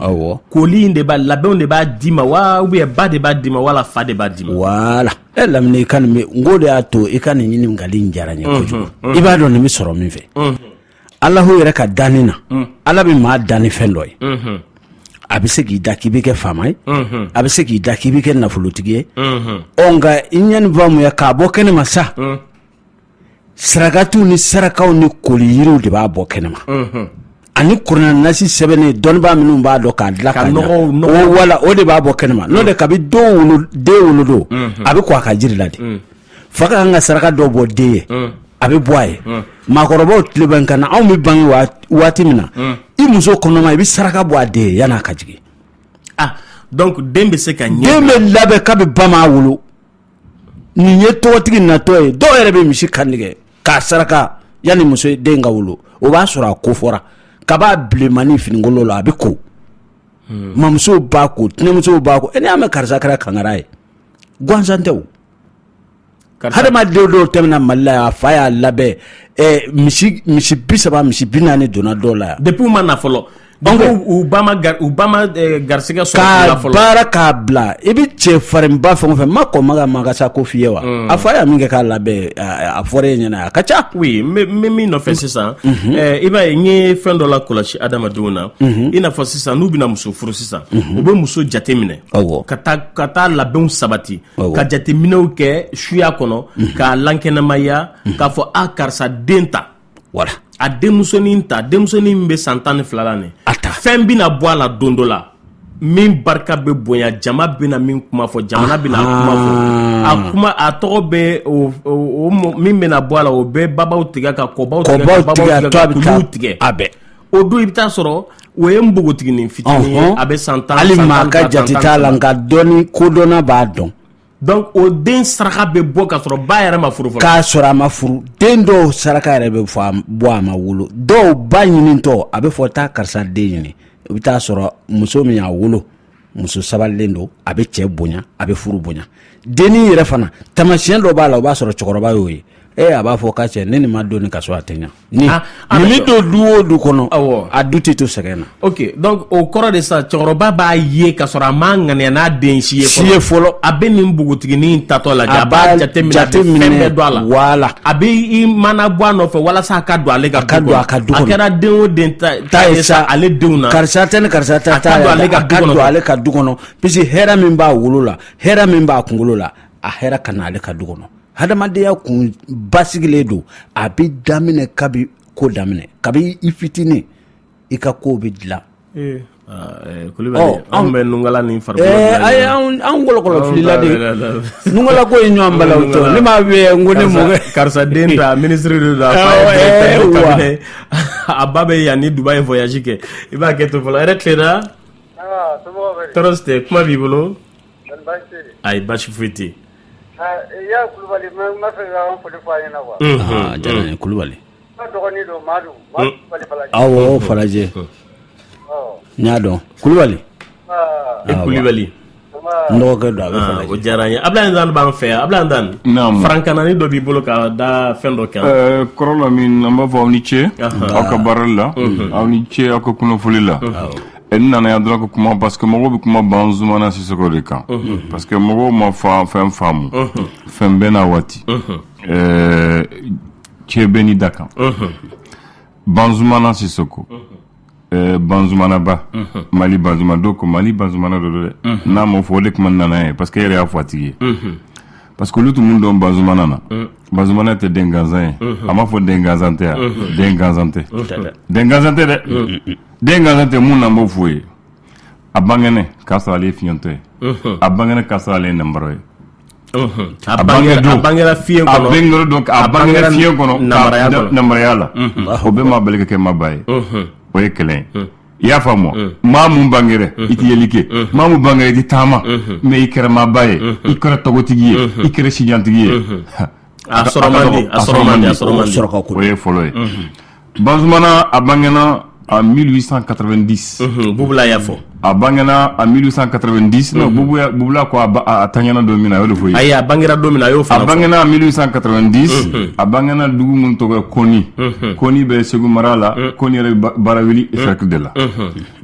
[SPEAKER 1] koli in de b'a labɛnw de b'a d'i ma wa ou bien ba de b'a d'i ma wala fa de b'a d'i ma voilà e lamini
[SPEAKER 2] i ka nin n ko de y'a to i ka nin ɲininkali diyara n ye kojugu i b'a dɔn nin bɛ sɔrɔ min fɛ alahu yɛrɛ ka danni na ala bɛ maa dan ni fɛn dɔ ye a bɛ se k'i da k'i bɛ kɛ faama ye a bɛ se k'i da k'i bɛ kɛ nafolotigi ye ɔ nka i ɲɛni faamuya k'a bɔ kɛnɛ ma sa sarakatiw ni sarakaw ni koli yiriw de b'a bɔ kɛnɛ ma ani kuranɛ nasi sɛbɛnnen dɔnnibaa minnu b'a dɔn k'a dilan ka ɲɛ wala o de b'a bɔ kɛnɛma n'o de kabi den wolodon a bɛ ko a ka jiri la de fa ka kan ka saraka dɔ bɔ den ye a bɛ bɔ a ye maakɔrɔbaw tile bɛ n kan na anw bɛ bange waati min na i muso kɔnɔma i bɛ saraka bɔ a den ye yann'a ka jigin
[SPEAKER 1] den bɛ se ka ɲɛ bɛ labɛn kabi
[SPEAKER 2] ba m'a wolo nin ye tɔgɔtigi natɔ ye dɔw yɛrɛ bɛ misi kan tigɛ k'a saraka yanni muso den ka wolo o b'a sɔrɔ a ko fɔra kab'a bilenmanin finikolon la a bɛ ko hmm. mamuso b'a ko tɛnɛmuso b'a ko n'i y'a mɛn karisa kɛra kangara ye gansan tɛ adamadenw dɔw tɛmɛna mali la a fa y'a labɛn misi misi bi saba misi bi naani donna dɔw la yan depuis u ma na fɔlɔ
[SPEAKER 1] donc u ba ma u ba ma garisɛgɛ sɔrɔ fɔlɔ k'a baara k'a
[SPEAKER 2] bila i bɛ cɛ farinba fɛn o fɛn ma kɔn ma ka makasa ko f'i ye wa a fa y'a min kɛ k'a labɛn a fɔra e ɲɛna a ka ca oui n bɛ
[SPEAKER 1] min nɔfɛ sisan i b'a ye n ye fɛn dɔ lakɔlɔsi adamadenw na i n'a fɔ sisan n'u bɛna muso furu sisan u bɛ muso jateminɛ ka taa ka taa labɛnw sabati ka jateminɛw kɛ suya kɔnɔ mhm. k'a lankɛnɛmaya mhm. k'a fɔ a karisa den ta wala a
[SPEAKER 2] denmusonin
[SPEAKER 1] ta denmusonin min bɛ san tan ni fila la nin a ta fɛn bɛna bɔ a la don dɔ la min barika bɛ bonya jama bɛna min kuma fɔ jamana bɛna kuma fɔ a kuma a tɔgɔ bɛ min bɛna bɔ a la o bɛ babaw tigɛ ka kɔbaw tigɛ ka babaw tigɛ ka kuluw tigɛ a bɛɛ o
[SPEAKER 2] don i bɛ taa
[SPEAKER 1] sɔrɔ o ye npogotiginin fitinin ye a bɛ san tan hali maa ka
[SPEAKER 2] jate t'a la nka dɔnni kodɔnna b'a dɔn donc o
[SPEAKER 1] den saraka bɛ bɔ k'a sɔrɔ ba yɛrɛ ma furu fɔlɔ k'a sɔrɔ a ma furu
[SPEAKER 2] den dɔw saraka yɛrɛ bɛ fɔ bɔ a ma wolo dɔw ba ɲinitɔ a bɛ fɔ taa karisa den ɲini i bɛ taa sɔrɔ muso min y'a wolo muso sabalilen don a bɛ cɛ bonya a bɛ furu bonya dennin yɛrɛ fana tamasiyɛn dɔ b'a la o b'a sɔrɔ cɛkɔrɔba y'o ye ee a b'a fɔ k'a cɛ ni nin ma don nin ka so a tɛ ɲa ni ah, ah, min don du o du kɔnɔ awɔ a du tɛ to sɛgɛn na ok donc
[SPEAKER 1] o kɔrɔ de sa cɛkɔrɔba b'a ye k'a sɔrɔ a ma ŋaniya n'a den si ye fɔlɔ si ye fɔlɔ a bɛ nin npogotiginin in tatɔ lajɛ a b'a jateminɛ a bɛ fɛn bɛɛ don a la wala a bɛ
[SPEAKER 2] i
[SPEAKER 1] mana bɔ a nɔfɛ walasa a ka don ale ka du kɔnɔ a ka don a kɛra den o den ta ale denw na karisa tɛ ni
[SPEAKER 2] karisa ka don ale ka du kɔnɔ puisque hɛrɛ min b'a wolo la hɛrɛ min b'a kunkolo la a hɛrɛ ka na ale ka du kɔnɔ hadamadenya kun basigilen don a bɛ daminɛ kabi ko daminɛ kabi i fitinin i ka ko bɛ
[SPEAKER 1] dilan kulubali anw bɛ nunkala ni
[SPEAKER 2] farikolo anw kɔlɔkɔlɔ filila de nunkala ko ye ɲɔgɔn bala ne m'a ko ne karisa den
[SPEAKER 1] minisiri don a ba bɛ yan ni dubai voyage kɛ i b'a kɛ to fɔlɔ yɛrɛ tilenna tɔɔrɔ si tɛ kuma b'i bolo ayi basi foyi tɛ yan
[SPEAKER 5] kulubali n b'a fɛ ka n foli fɔ a ɲɛna quoi a diyara n ye
[SPEAKER 2] kulubali n dɔgɔnin
[SPEAKER 5] don madu kulubali falajɛ awɔ falajɛ
[SPEAKER 2] n y'a dɔn kulubali i
[SPEAKER 1] kulubali
[SPEAKER 2] n dɔgɔkɛ don a bɛ falajɛ o diyara n ye ablaye
[SPEAKER 1] ndan b'an fɛ yan ablaye ndan naamu farankanani dɔ b'i bolo ka da fɛn dɔ kan ɛɛ kɔrɔ lamin an b'a
[SPEAKER 6] fɔ aw ni ce aw ka baarali la aw ni ce aw ka kunnafoli la n nana yan dɔrɔn ka kuma parce que mɔgɔw bɛ kuma banzumana sisoko de kan parce que mɔgɔw ma fa fɛn faamu fɛn bɛɛ n'a waati ɛɛ cɛ bɛɛ n'i dakan banzumana sisoko Ɛɛ banzumanaba mali banzumana don ko mali banzumana don dɛ n'a ma fɔ o de kuma nana ye parce que yɛrɛ y'a fɔ a tigi ye parce que olu tun mun dɔn banzumana na banzumana tɛ den gansan ye a m'a fɔ den gansan tɛ yan den gansan tɛ den gansan tɛ dɛ den gansan tɛ mun na n b'o f'i ye a bangena k'a sɔrɔ ale ye fiɲɛtɔ ye a bangena k'a sɔrɔ ale ye nambara ye
[SPEAKER 1] A bangera
[SPEAKER 6] fiɲɛ kɔnɔ nambaraya la o bɛɛ m'a bali ka kɛ maaba ye o ye kelen ye i y'a faamu maa min bangera i tɛ yeli kɛ maa min bangera i tɛ taama mais i kɛra maaba ye i kɛra tɔgɔtigi ye i kɛra sijantigi ye bamanan a bange a mi san kata di bla fɔ
[SPEAKER 1] a bange a
[SPEAKER 6] mi san kata di bla ko a ta ɲɛna don min na o fɔ a a bange don min a y'o
[SPEAKER 1] a bange a mi san kata
[SPEAKER 6] di a bange dugu min tɔgɔ kɔni kɔni bɛ segu mara la ko yɛrɛ bara wuli sirati de la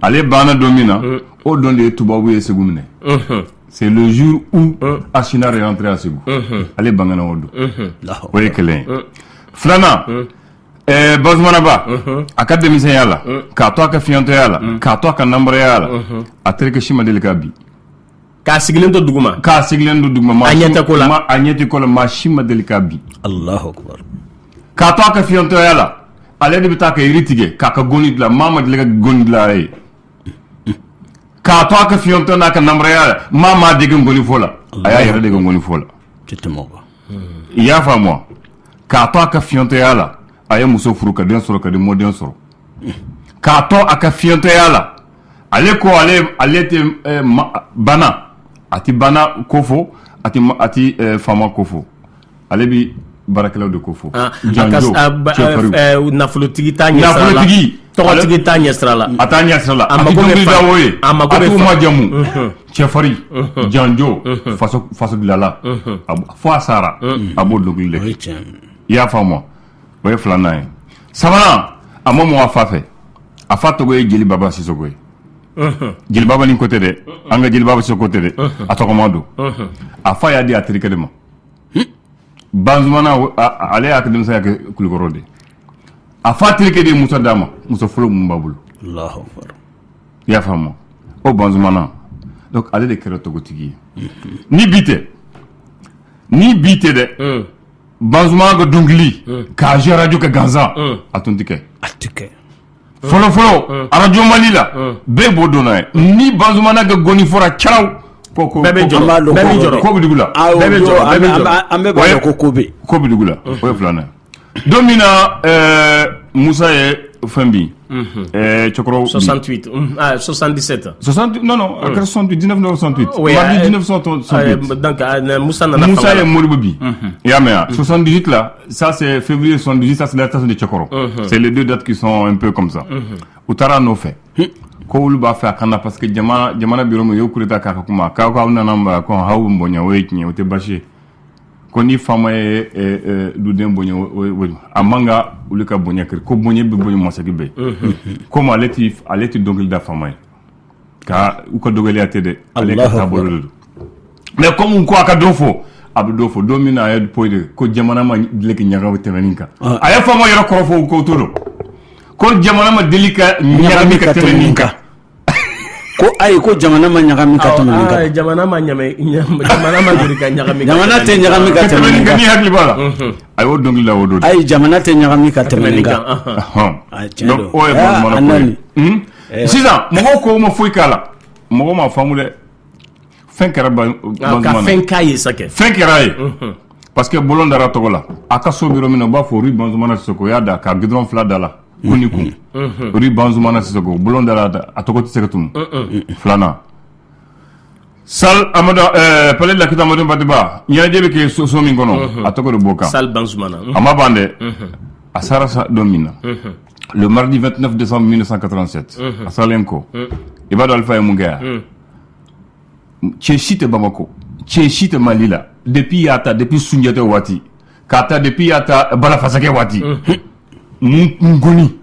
[SPEAKER 6] ale bange don min na o dɔn de ye tubabu ye segu minɛ C'est le jour où euh. Archinard est entré à Ségou. Euh, euh. Ale bangena o don. O ye kelen ye. Filanan, ɛɛ Banzumanaba, a ka denmisɛnya la, k'a to a ka fiɲɛtɔya la, k'a to a ka nambaraya la, a terikɛ si ma deli k'a bin. K'a
[SPEAKER 1] sigilen to duguma. K'a sigilen to duguma. A
[SPEAKER 6] ɲɛ tɛ ko la. A ɲɛ tɛ ko la, maa si ma deli k'a bin.
[SPEAKER 2] Alahu akibaru. K'a to a ka
[SPEAKER 6] fiɲɛtɔya la, ale de bɛ taa ka yiri tigɛ, k'a ka goni dilan, maa ma deli ka goni dilan a ye. k'a to a ka fiyentɔ n'a ka nambaraya la maa m'a dege ngoni fɔ la a y'a yɛrɛ dege ngoni fɔ la i y'a faamu wa k'a to a ka fiyentɔya la a ye muso furu ka den sɔrɔ ka den mɔden sɔrɔ k'a to a ka fiyentɔya la ale ko ale ale tɛ eh, baana a tɛ baana ko fɔ a tɛ faama ko fɔ ale bɛ baarakɛlaw de ko
[SPEAKER 1] fɔ nafolotigi nafolotigi tɔgɔtigi t'a ɲɛsira la a t'a ɲɛsira la
[SPEAKER 6] a tɛ dɔnkili da o ye a t'u majamu cɛfarin janjo faso dilala fo a sara a b'o dɔnkili de kɛ i y'a faamu o ye filanan ye sabanan a ma mɔgɔ a fa fɛ a fa tɔgɔ ye jeli baba sisɔkɔ ye jeli baba nin ko tɛ dɛ an ka jeli baba sisɔkɔ tɛ dɛ a tɔgɔma don a fa y'a di a terikɛ de ma banzumana ale y'a ka denmisɛnya kɛ kulikɔrɔ de a fa terikɛ de ye muso d'a ma muso fɔlɔ min b'a bolo i y'a faamu o banzumana donc ale de kɛra tɔgɔtigi ye ni bi tɛ ni bi tɛ dɛ hmm. banzumana ka dɔnkili hmm. k'a jouer arajo kɛ gansan a tun tɛ kɛ a tɛ kɛ fɔlɔfɔlɔ arajo mali la bɛɛ b'o donna ye ni bazmana kɛ gɔni fɔra caraw ko ko
[SPEAKER 1] la
[SPEAKER 6] bɛɛ
[SPEAKER 2] ko ko kodugu la o ye filanan
[SPEAKER 6] don min na musa ye fɛn bi cɛkɔrɔba sɔsan
[SPEAKER 1] sɔsandise ta sɔsan a
[SPEAKER 6] kɛra sɔn diinɛ sɔn musa
[SPEAKER 1] nana musa ye moribu bi
[SPEAKER 6] i y'a mɛn yan sɔsan diti Ça, c'est février 78, ça, c'est l'arrestation de Tchekoro. Mhm. C'est les deux dates qui sont un peu comme ça. Mhm. U taara a nɔfɛ. Hmm. Ko olu b'a fɛ a kana parce que jamana jamana bɛ yɔrɔ min u ye coup d'état k'a ka kuma k'aw k'aw nana n bara ko aw bɛ n bonya o ye tiɲɛ ye o tɛ baasi ye ko ni faama ye eh, eh, duden bonya o ye a man kan olu ka bonya kiri ko bonya bɛ bonya masegin bɛ yen komi ale tɛ ale tɛ dɔnkili da faama ye ka u ka dɔgɔya tɛ dɛ ale ka taabolo de don mɛ kɔmi ko a ka dɔ fɔ a bɛ dɔ fɔ don min na a ye poyi de ko jamana ma deli ka ɲagami tɛmɛ nin kan ah. a ye faama yɛrɛ kɔrɔ fɔ ko to don ko jamana ma deli ka ɲagami ka tɛmɛ nin kan
[SPEAKER 2] ko ayi ko jamana ma ɲagami ka tɛmɛ nin kan ah, jamana ma
[SPEAKER 1] ɲamɛ jamana ma deli ka ɲagami jamana tɛ ɲagami
[SPEAKER 2] ka tɛmɛ nin kan ne hakili b'a la mhm.
[SPEAKER 6] a y'o dɔnkili la o don ayi jamana tɛ ɲagami
[SPEAKER 2] ka
[SPEAKER 6] tɛmɛ
[SPEAKER 2] nin kan
[SPEAKER 6] ah, tiɲɛ don o
[SPEAKER 2] ye
[SPEAKER 6] banzumana
[SPEAKER 2] ka ko ye
[SPEAKER 6] sisan mɔgɔw ko u ma foyi k'a la mɔgɔ ma faamu dɛ fɛn kɛra fɛn k'a ye sa
[SPEAKER 1] fɛn kɛr'a ye
[SPEAKER 6] parce que bɔlɔn dara a tɔgɔ la a ka so bɛ yɔrɔ min u b'a fɔ rue banzumana sisɔkɔ y'a da ka gudɔrɔn fila da la kun ni kun rue banzumana sisɔkɔ bɔlɔn dara a tɔgɔ tɛ se ka tunun filanan Salle amadu eh, palais de la culture amadu hampate ba ɲɛnajɛ bɛ kɛ so min kɔnɔ mhm. a tɔgɔ de b'o kan salle banzumana mhm. a
[SPEAKER 1] ma ban dɛ
[SPEAKER 6] mhm. a sara don min na le mardi 29 décembre 1987 a salen kɔ i b'a dɔn alifa ye mun kɛ yan cɛ si tɛ bamako cɛ si tɛ mali la depuis y'a ta depuis sunjata waati k'a ta depuis y'a ta balafasakɛ waati mun ngoni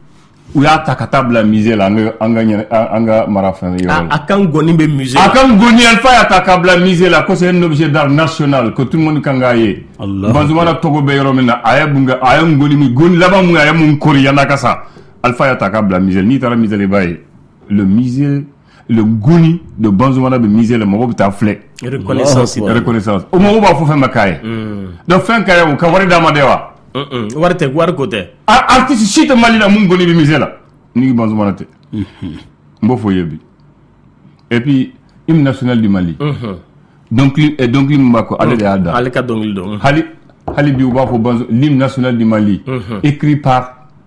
[SPEAKER 6] u y'a ta ka taa bila musée la an ka an ka ɲɛna an ka mara fɛn yɔrɔ la. A ka ngɔni bɛ musée
[SPEAKER 1] la. A ka ngɔni Alifa
[SPEAKER 6] y'a ta ka bila musée la ko c'est un objet d'art national que tout le monde kan k'a ye. Banzumana tɔgɔ bɛ yɔrɔ min na a ye mun kɛ a ye ngɔni min ngɔni laban mun a ye mun kori yan'a ka sa Alifa y'a ta ka bila musée la n'i taara musée la i b'a ye le musée le goni de banzmana bɛ mizele mɔgɔ bɛ taa filɛ o mɔgɔw b'a fɔ fɛn bɛ ka ye dɔn fɛn ka ye u ka wari d'a ma de wa wari tɛ wari
[SPEAKER 1] ko tɛ aaa tɛ si tɛ
[SPEAKER 6] malila mun kɔni bɛ mizela ni ban tɛ n b'o fɔ ye bi ep i bɛna sɛnɛli di mali dɔnkili b'a ko ale de y'a da ale ka dɔnkili dɔn
[SPEAKER 1] hali bi u
[SPEAKER 6] b'a fɔ ni bɛna sɛnɛli di mali e kiri pa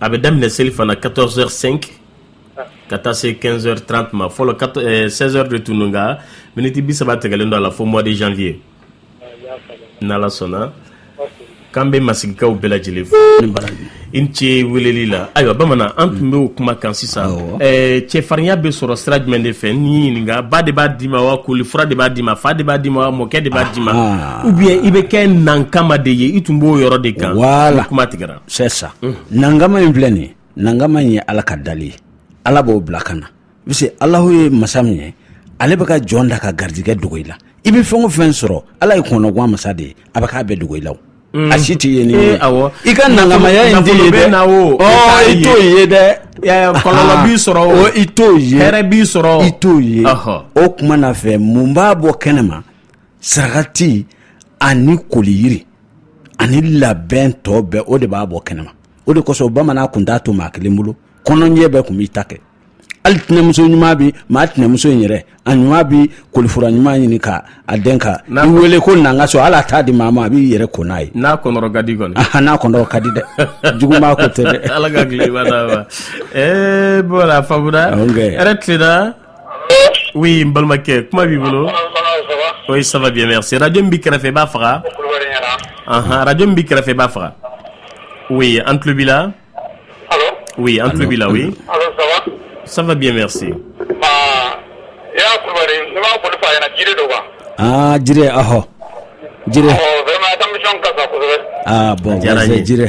[SPEAKER 1] a bɛ daminɛ selifana quatorze heures cinq ka taa se quinze heures trente ma fɔlɔ seize heures de tun don nka miniti bi saba tigɛlen don a la fo mois de janvier n'ala sɔnna k'an bɛ masigikaw bɛɛ lajɛlen fo i ni ce weleli la ayiwa bamanan an tun bɛ o kuma kan sisan cɛfarinya bɛ sɔrɔ sira jumɛn de fɛ n'i ɲininka ba de b'a d'i ma wa kolifura de b'a d'i ma fa de b'a d'i ma wa mɔkɛ de b'a d'i ma ou bien i bɛ kɛ nankama de ye i tun b'o yɔrɔ de kan voilà kuma
[SPEAKER 2] tigɛra c'est ça nankama in filɛ nin nankama in ye ala ka dali ye ala b'o bila ka na parce que alahu ye masa min ye ale bɛ ka jɔn da ka garijɛgɛ dogo i la i bɛ fɛn o fɛn sɔrɔ ala ye kɔnɔguwan masa de ye a bɛ k'a bɛɛ dogo i la mm. a si tɛ ye ni eh, awɔ i ka nangamaya in tɛ ye dɛ i t'o ye dɛ kɔlɔlɔ b'i
[SPEAKER 1] sɔrɔ o i t'o ye hɛrɛ
[SPEAKER 2] b'i sɔrɔ i
[SPEAKER 1] t'o ye
[SPEAKER 2] o kuma na fɛn mun b'a bɔ kɛnɛ ma sarakati ani koliyiri ani labɛn tɔ bɛɛ o de b'a bɔ kɛnɛma o de kosɔn bamanan kun t'a to maa kelen bolo kɔnɔnjɛ bɛɛ kun b'i ta kɛ hali tɛnɛmuso ɲuman bi maa tɛnɛmuso in yɛrɛ a ɲuman bi kolifura ɲuman ɲini ka a den ka i wele ko nanga so ala t'a di maa ma a b'i yɛrɛ ko n'a ye n'a kɔnɔrɔ ka
[SPEAKER 1] di kɔni n'a kɔnɔrɔ ka di dɛ
[SPEAKER 2] jugumaa ko tɛ dɛ ala ka tile ba d'a
[SPEAKER 1] ma ee voilà faamuya yɛrɛ tilenna Oui n balimakɛ kuma b'i bolo oui ça va bien merci radio min b'i kɛrɛfɛ i b'a faga anhan radio min b'i kɛrɛfɛ i b'a faga oui an tulo b'i la oui an tulo b'i la oui ça va bien merci
[SPEAKER 2] aa Jire ɔhɔ Jire aa bon merci Jire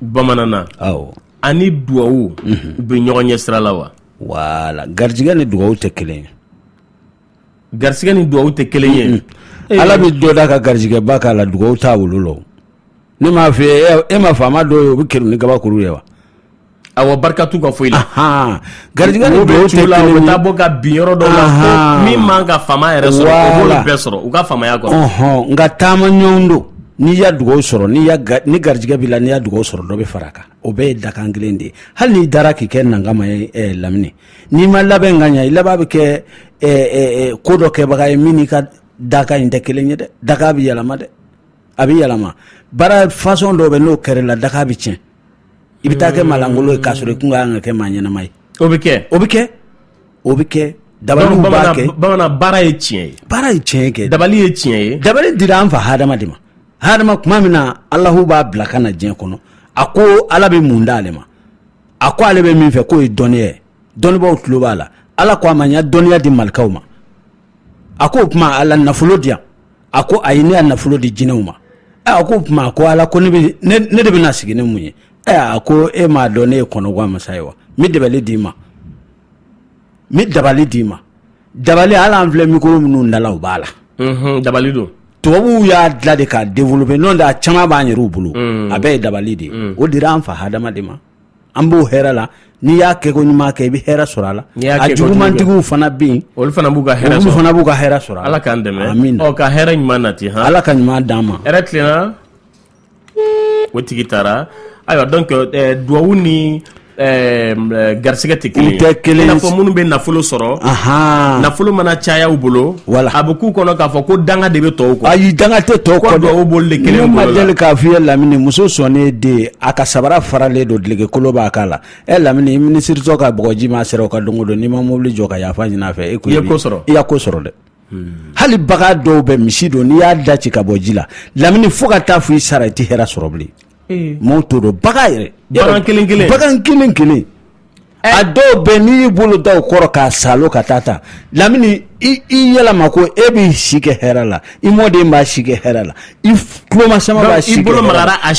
[SPEAKER 1] bamanan na ani dugawu u bɛ ɲɔgɔn ɲɛ sira la wa voilà garijɛgɛ
[SPEAKER 2] ni dugawu tɛ kelen
[SPEAKER 1] ye garisigɛ ni dugawu tɛ kelen ye ala bɛ
[SPEAKER 2] dɔ da ka garijɛgɛba k'a la dugawu t'a wolo la ne m'a fɔ e ma faama dɔ ye o bɛ kɛrun ni kabakuru ye wa A
[SPEAKER 1] barika t'u ka foyi la
[SPEAKER 2] gari la bɔ ka bin
[SPEAKER 1] yɔrɔ dɔ la min man kan ka
[SPEAKER 2] faama
[SPEAKER 1] yɛrɛ sɔrɔ bɛɛ sɔrɔ u ka faamaya kɔnɔ nka taama
[SPEAKER 2] ɲɔgɔn
[SPEAKER 1] don n'i
[SPEAKER 2] y'a dugawu sɔrɔ ni garijɛgɛ b'i la n'i y'a dugawu sɔrɔ dɔ bɛ fara a kan o bɛɛ ye dakan kelen de ye hali n'i dara k'i kɛ nankama ye lamini n'i ma labɛn ka ɲɛ i laban bɛ kɛ ko dɔ kɛbaga ye min n'i ka dakan in tɛ kelen ye dɛ dakan bɛ yɛlɛma dɛ a bɛ yɛlɛma baara façon dɔ bɛ n'o kɛra la dakan bɛ tiɲɛ i bɛ taa kɛ maa lankolon ye k'a sɔrɔ i kun ka kan ka kɛ maa ɲɛnama ye o bɛ kɛ o bɛ kɛ o bɛ kɛ dabaliw b'a kɛ bamanan baara ye tiɲɛ
[SPEAKER 1] ye baara ye tiɲɛ kɛ dabali
[SPEAKER 2] ye tiɲɛ ye dabali
[SPEAKER 1] dira an fa hadama
[SPEAKER 2] de ma hadama tuma min na alahu b'a bila ka na diɲɛ kɔnɔ a ko ala bɛ mun d'ale ma a ko ale bɛ min fɛ k'o ye dɔnniya ye dɔnnibaaw tulo b'a la ala ko a ma n y'a dɔnniya di malikaw ma a ko o tuma ala nafolo di yan a ko ayi ne y'a nafolo di jinɛw ma a ko o tuma a ko ala ko ne de bɛna sigi ni mun ye a ko e m'a dɔn ne ye kɔnɔguwan masa ye wa n bɛ dabali d'i ma n bɛ dabali d'i ma dabali hali an filɛ mikoro minnu da la o b'a la dabali
[SPEAKER 1] don tubabuw
[SPEAKER 2] y'a dilan de k'a développer n'o tɛ a caman b'an yɛrɛw bolo a bɛɛ ye dabali de ye o dira an fa hadama de ma an b'o hɛrɛ la n'i y'a kɛ ko ɲuman kɛ i bɛ hɛrɛ sɔrɔ a la a jugumantigiw fana bɛ yen olu fana b'u ka hɛrɛ
[SPEAKER 1] sɔrɔ fana b'u ka hɛrɛ
[SPEAKER 2] sɔrɔ ala k'an dɛmɛ amin ɔ
[SPEAKER 1] ka hɛrɛ ɲuman
[SPEAKER 2] nati
[SPEAKER 1] han ala ka ɲuman d'an ma
[SPEAKER 2] hɛrɛ tilenna
[SPEAKER 1] o tigi taara ayiwa donc eh, duwawu ni eh, eh, garisigɛ tɛ kelen tɛ kelen i n'a fɔ minnu bɛ nafolo sɔrɔ nafolo mana caya u bolo wala a bɛ k'u kɔnɔ k'a fɔ ko danga de bɛ tɔw kɔ ayi danga tɛ tɔw kɔ
[SPEAKER 2] duwawu b'olu de kelen bolo la ne
[SPEAKER 1] ma deli k'a f'i ye
[SPEAKER 2] lamini muso sɔnnen den a ka sabara faralen don dulɔki kolon b'a kan na e lamini minisiri ka bɔgɔji mana seri o kan don o don n'i ma mobili jɔ ka yafa ɲini a fɛ e i y'a ko
[SPEAKER 1] sɔrɔ dɛ
[SPEAKER 2] hali bagan dɔw bɛ misi don n'i y'a da ci k'a bɔ ji la lamini fo ka taa fo i sara i tɛ hɛrɛ sɔrɔ bilen maaw t'o dɔn bagan yɛrɛ
[SPEAKER 1] bagan kelen kelen
[SPEAKER 2] a dɔw bɛ n'i y'i bolo da o kɔ rɔ k'a saalo ka taa ta lamini i yɛlɛma ko e b'i si kɛ hɛrɛ la i mɔden b'a si kɛ hɛrɛ la i tulomasama b'a si kɛ hɛrɛ la i bolo magara
[SPEAKER 1] a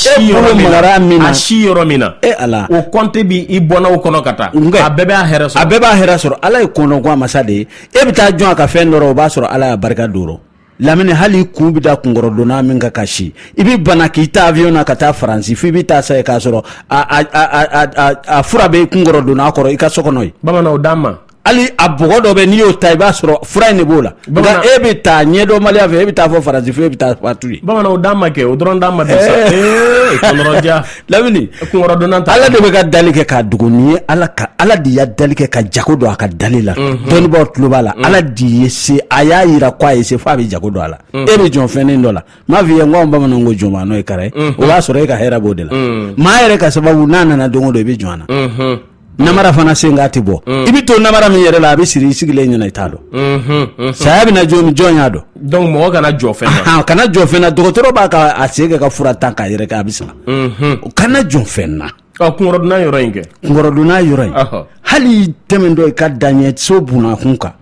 [SPEAKER 1] si yɔrɔ min na e ala o compte
[SPEAKER 2] bɛ
[SPEAKER 1] i bɔnnaw kɔnɔ ka taa a bɛɛ b'a hɛrɛ a bɛɛ b'a hɛrɛ sɔrɔ ala ye kɔnɔguwan masa de ye e bɛ taa jɔn a ka fɛn dɔ rɔ o b'a sɔrɔ ala y'a barika don lamini hali i kun bɛ da kunkɔrɔdonnan min kan ka si i bɛ bana k'i ta avion na ka taa faransi fo i bɛ taa sa yen k'a sɔrɔ a fura bɛ kunkɔrɔdonnan kɔrɔ i ka so kɔnɔ yen bamananw d'an ma hali a bɔgɔ
[SPEAKER 2] dɔ bɛ n'i y'o ta i b'a sɔrɔ fura in de b'o la nka e bɛ taa ɲɛdɔnbaliya fɛ e bɛ taa fo faransi fo e bɛ taa fatu yen bamananw d'an ma kɛ o dɔrɔn
[SPEAKER 1] d'an ma dɛ sa ee kɔnɔrɔja
[SPEAKER 2] lamini kunkɔrɔdonna ta ala
[SPEAKER 1] de bɛ ka dali kɛ
[SPEAKER 2] k'a dogo ni ye ala ka ala de y'a dali kɛ ka jago don a ka dali la dɔnnibaw tulo b'a la ala de ye se a y'a yira ko a ye se fo a bɛ jago don a la e bɛ jɔn fɛnnin dɔ la m'a fɔ i ye n ko anw bamananw ko jɔn n'o ye kara ye o b'a sɔrɔ e ka hɛrɛ b'o de la maa yɛrɛ ka sababu n'a nana don o don i bɛ jɔn a na namara fana sen k'a tɛ bɔ mm. i bɛ to namara min yɛrɛ la a bɛ siri i sigilen ɲɛna i t'a dɔn mm-hmm, mm-hmm. saya bɛna jɔ min jɔn y'a dɔn donc mɔgɔ kana
[SPEAKER 1] jɔn fɛn na kana jɔn fɛn na dɔgɔtɔrɔ
[SPEAKER 2] b'a ka a sen kɛ ka fura ta k'a yɛrɛ kɛ a bɛ sa mm-hmm. kana jɔn fɛn na kunkɔrɔdonna yɔrɔ
[SPEAKER 1] in kɛ kunkɔrɔdonna yɔrɔ
[SPEAKER 2] in hali tɛmɛntɔ i ka daɲɛ so bunakun kan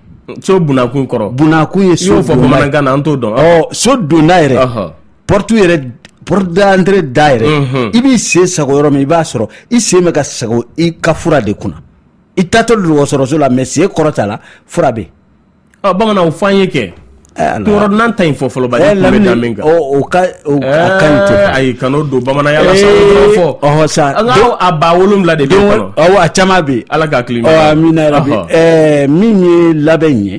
[SPEAKER 2] so bunakun
[SPEAKER 1] kɔrɔ bunakun ye so fɔ
[SPEAKER 2] bamanankan na an t'o
[SPEAKER 1] dɔn so donna yɛrɛ
[SPEAKER 2] Porte yɛrɛ porte d'entrée da yɛrɛ i b'i sen sago yɔrɔ min i b'a sɔrɔ i sen bɛ ka sago i ka fura de kunna i taatɔ dɔgɔtɔrɔso la mais sen kɔrɔta la fura bɛ yen bamananw fɔ an ye kɛ
[SPEAKER 1] kunkɔrɔdonna ta in fɔ
[SPEAKER 2] fɔlɔ kan'o
[SPEAKER 1] don bamananya la sa a ba
[SPEAKER 2] wolonwula
[SPEAKER 1] de a caman bɛ
[SPEAKER 2] ala ka min ye labɛn in ye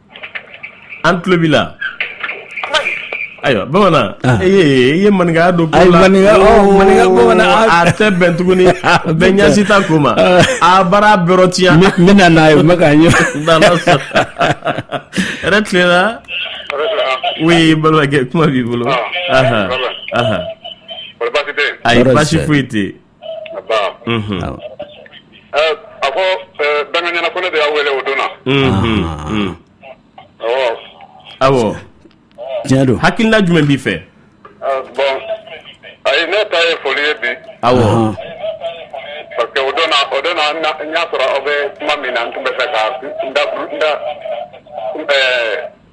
[SPEAKER 1] an tulo b'i la ayiwa bamanan ah. e i ye maninkaya don ko la maninka oh, bamanan
[SPEAKER 2] a tɛ bɛn tuguni
[SPEAKER 1] bɛɛ ɲɛsi ta ko ma ah. a baara bɛrɛ tiɲɛ n bɛna n'a ye n
[SPEAKER 2] bɛ k'a ɲɛ
[SPEAKER 1] hɛrɛ tilenna oui balimakɛ kuma b'i bolo ayi baasi foyi tɛ yen
[SPEAKER 5] a ko dangaɲana ko ne de y'a wele o don na
[SPEAKER 1] awɔ tiɲɛ don
[SPEAKER 2] hakilina jumɛn b'i fɛ
[SPEAKER 5] bon ayi ne ta ye foli ye bi awɔ parce que o don na o don na n y'a sɔrɔ aw bɛ kuma min na n tun bɛ fɛ ka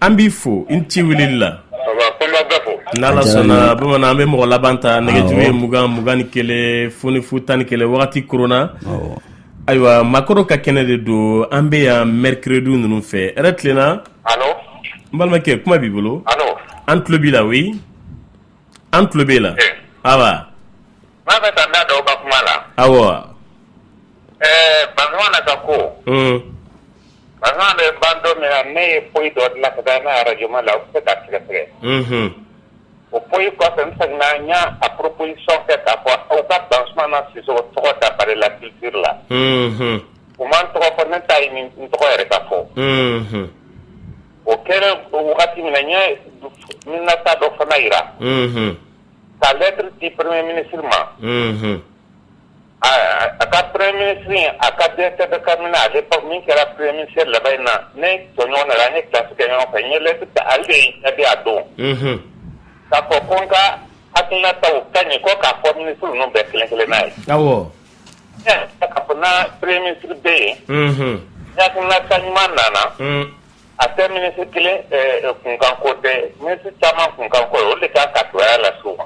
[SPEAKER 2] an b'i fo
[SPEAKER 1] i ni ce weleli
[SPEAKER 3] la n'ala
[SPEAKER 1] sɔnna bamanan an bɛ mɔgɔ laban ta nɛgɛjuru ye mugan mugan ni kelen fu ni fu tan ni kelen wagati korona ayiwa makɔrɔ ka kɛnɛ de don an bɛ yan mercredi ninnu fɛ hɛrɛ
[SPEAKER 3] tilenna n
[SPEAKER 1] balimakɛ kuma b'i bolo an tulo b'i
[SPEAKER 3] la oui
[SPEAKER 1] an tulo b'e la awa B'a fɛ
[SPEAKER 3] ka da dɔw ka kuma la aw
[SPEAKER 1] ɛɛ
[SPEAKER 3] ba na ka ko ba bɛ ba dɔ min na ne ye foyi dɔ dilan ka taa n'a araj la u bɛ ka tigɛ tigɛ o ko kɔfɛ n y'a a poro sɔn fɛ ka fɔ aw ka ban na si tɔgɔ da bare la ki la u ma tɔgɔ fɔ ne ta ɲi n tɔgɔ yɛrɛ ka fɔ o kɛra wagati min n ye n taa dɔ fana jira ka lɛturu di premier ministre ma a ka premier ministre a ka directeur de cabinet à l'époque min kɛra premier ministre laban in na ne tɔɲɔgɔn na an ye classe kɛ ɲɔgɔn fɛ n ye lɛturu ta ale de y'a jaabi a dɔn k'a fɔ ko n ka hakilinataw ka ɲi ko k'a fɔ minisiri ninnu bɛɛ kelen kelenna ye awɔ k'a fɔ premier ministre bɛ yen hakilinata ɲuman nana A tɛ minisiri kelen kunkanko tɛ minisiri caman kunkanko o de ka ka toya lase u ma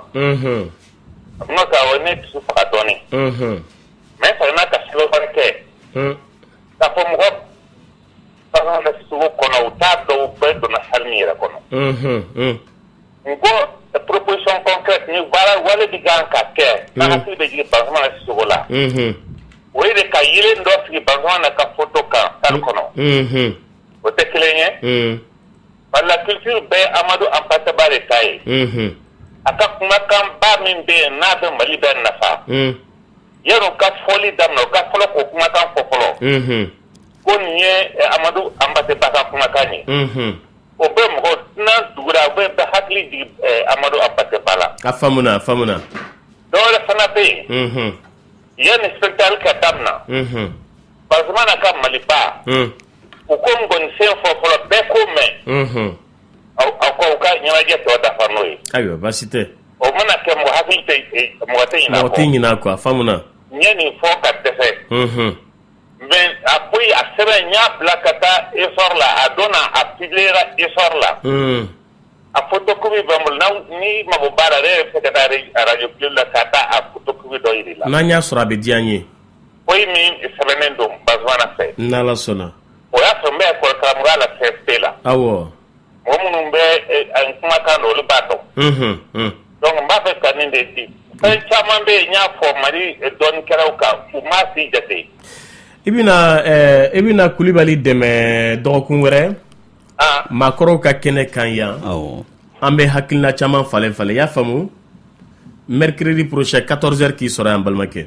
[SPEAKER 3] n'o tɛ awɔ ne dusu faga dɔɔnin mais fana ka sokɛ kɛ k'a fɔ mɔgɔ Banzumana Sisoko kɔnɔ u t'a dɔn u bɛɛ donna salle min yɛrɛ kɔnɔ U ko purpsɔn baara wale bɛ kan ka kɛ bɛ jigin ba sogo la o de ka ye dɔ sigi ba na ka fɔtɔ kan tan kɔnɔ o tɛ kelen ye wala kisi bɛ amadu an bataba de ta ye a ka kumakanba min bɛ yen n'a bɛ mali bɛ nafa ya ka fɔli daminɛ u ka fɔlɔ ko kumakan kɔ fɔlɔ ko nin ye amadu anba ka kumakan ye O bɛ mɔgɔ tɛna dugu la o bɛ bɛɛ hakili jigin Amadu Hampate Ba la a
[SPEAKER 1] faamuna dɔ
[SPEAKER 3] wɛrɛ fana bɛ yen yanni spectacle ka daminɛ Banzumana ka Maliba u k'o ngɔnisen fɔ fɔlɔ bɛɛ k'o mɛn aw k'u ka ɲɛnajɛ tɔ dafa n'o ye ayiwa baasi
[SPEAKER 1] tɛ o mana kɛ mɔgɔ
[SPEAKER 3] hakili tɛ mɔgɔ tɛ ɲinɛ mɔgɔ tɛ ɲinɛ a kɔ a
[SPEAKER 1] faamuna n ye nin fɔ
[SPEAKER 3] ka dɛsɛ Mɛ a ko a sɛbɛn n y'a bila ka taa e la a dɔn a bi e la a ko to kɔmi bɛ bolo ni mago baara yɛrɛ bɛ se araj la ka taa a koto dɔ jira la n'an y'a sɔrɔ a bɛ diya ye
[SPEAKER 1] ko min
[SPEAKER 3] sɛbɛnnen don ba fɛ sɔnna
[SPEAKER 1] o y'a sɔrɔ n bɛ
[SPEAKER 3] kɔrɔkara la fɛn bɛɛ la aw
[SPEAKER 1] Mɔgɔ
[SPEAKER 3] minnu bɛ a kumakan dɔn olu b'a dɔn dɔnku n b'a fɛ ka nin de di fɛn caman bɛ yen n y'a fɔ Mali dɔnnikɛlaw kan u m'a si jate i bɛna
[SPEAKER 1] i bɛna Kulibali dɛmɛ dɔgɔkun wɛrɛ maakɔrɔw ka kɛnɛ kan yan an bɛ hakilina caman falen falen y'a faamu mercredi prochain quatorze heures k'i sɔrɔ yan balimakɛ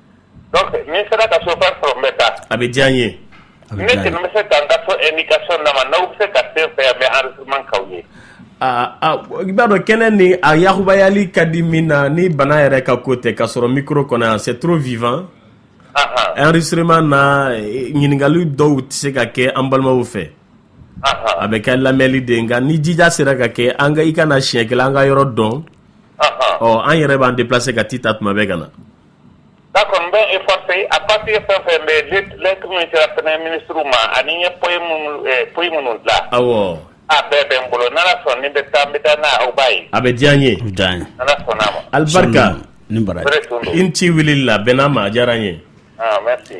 [SPEAKER 3] N sera ka chauffeur sɔrɔ n bɛ taa a bɛ diya n ye
[SPEAKER 1] ne bɛ se
[SPEAKER 3] ka n ka so indication d'a ma n'aw bɛ se ka se n fɛ yan n bɛ enregistrement k'aw ye aaa
[SPEAKER 1] i b'a dɔn kɛnɛ ni a yakubayali ka di min na ni bana yɛrɛ ka ko tɛ k'a sɔrɔ mikoro kɔnɔ yan c'est trop vivant enregistrement na ɲininkakali dɔw tɛ se ka kɛ an balimaw fɛ a bɛ kɛ lamɛnli de nka ni jija sera ka kɛ an i ka na siɲɛ kelen an ka yɔrɔ dɔn ɔ an yɛrɛ b'an déplacer ka t'i ta tuma bɛɛ ka na
[SPEAKER 3] d'accord n bɛ efforcer a partir de fɛn fɛn bɛ lɛtiri min sera fɛnɛ minisiriw ma ani n ye poyi minnu poyi minnu dilan awɔ a
[SPEAKER 1] bɛɛ bɛ n
[SPEAKER 3] bolo n'ala sɔnna ni bɛ taa n bɛ taa n'a aw b'a ye a bɛ diya n ye o
[SPEAKER 1] diya n ye n'ala sɔnna
[SPEAKER 3] a ma alibarika ni
[SPEAKER 1] baraji i ni ci wulili la bɛnn'a ma a diyara n ye ah merci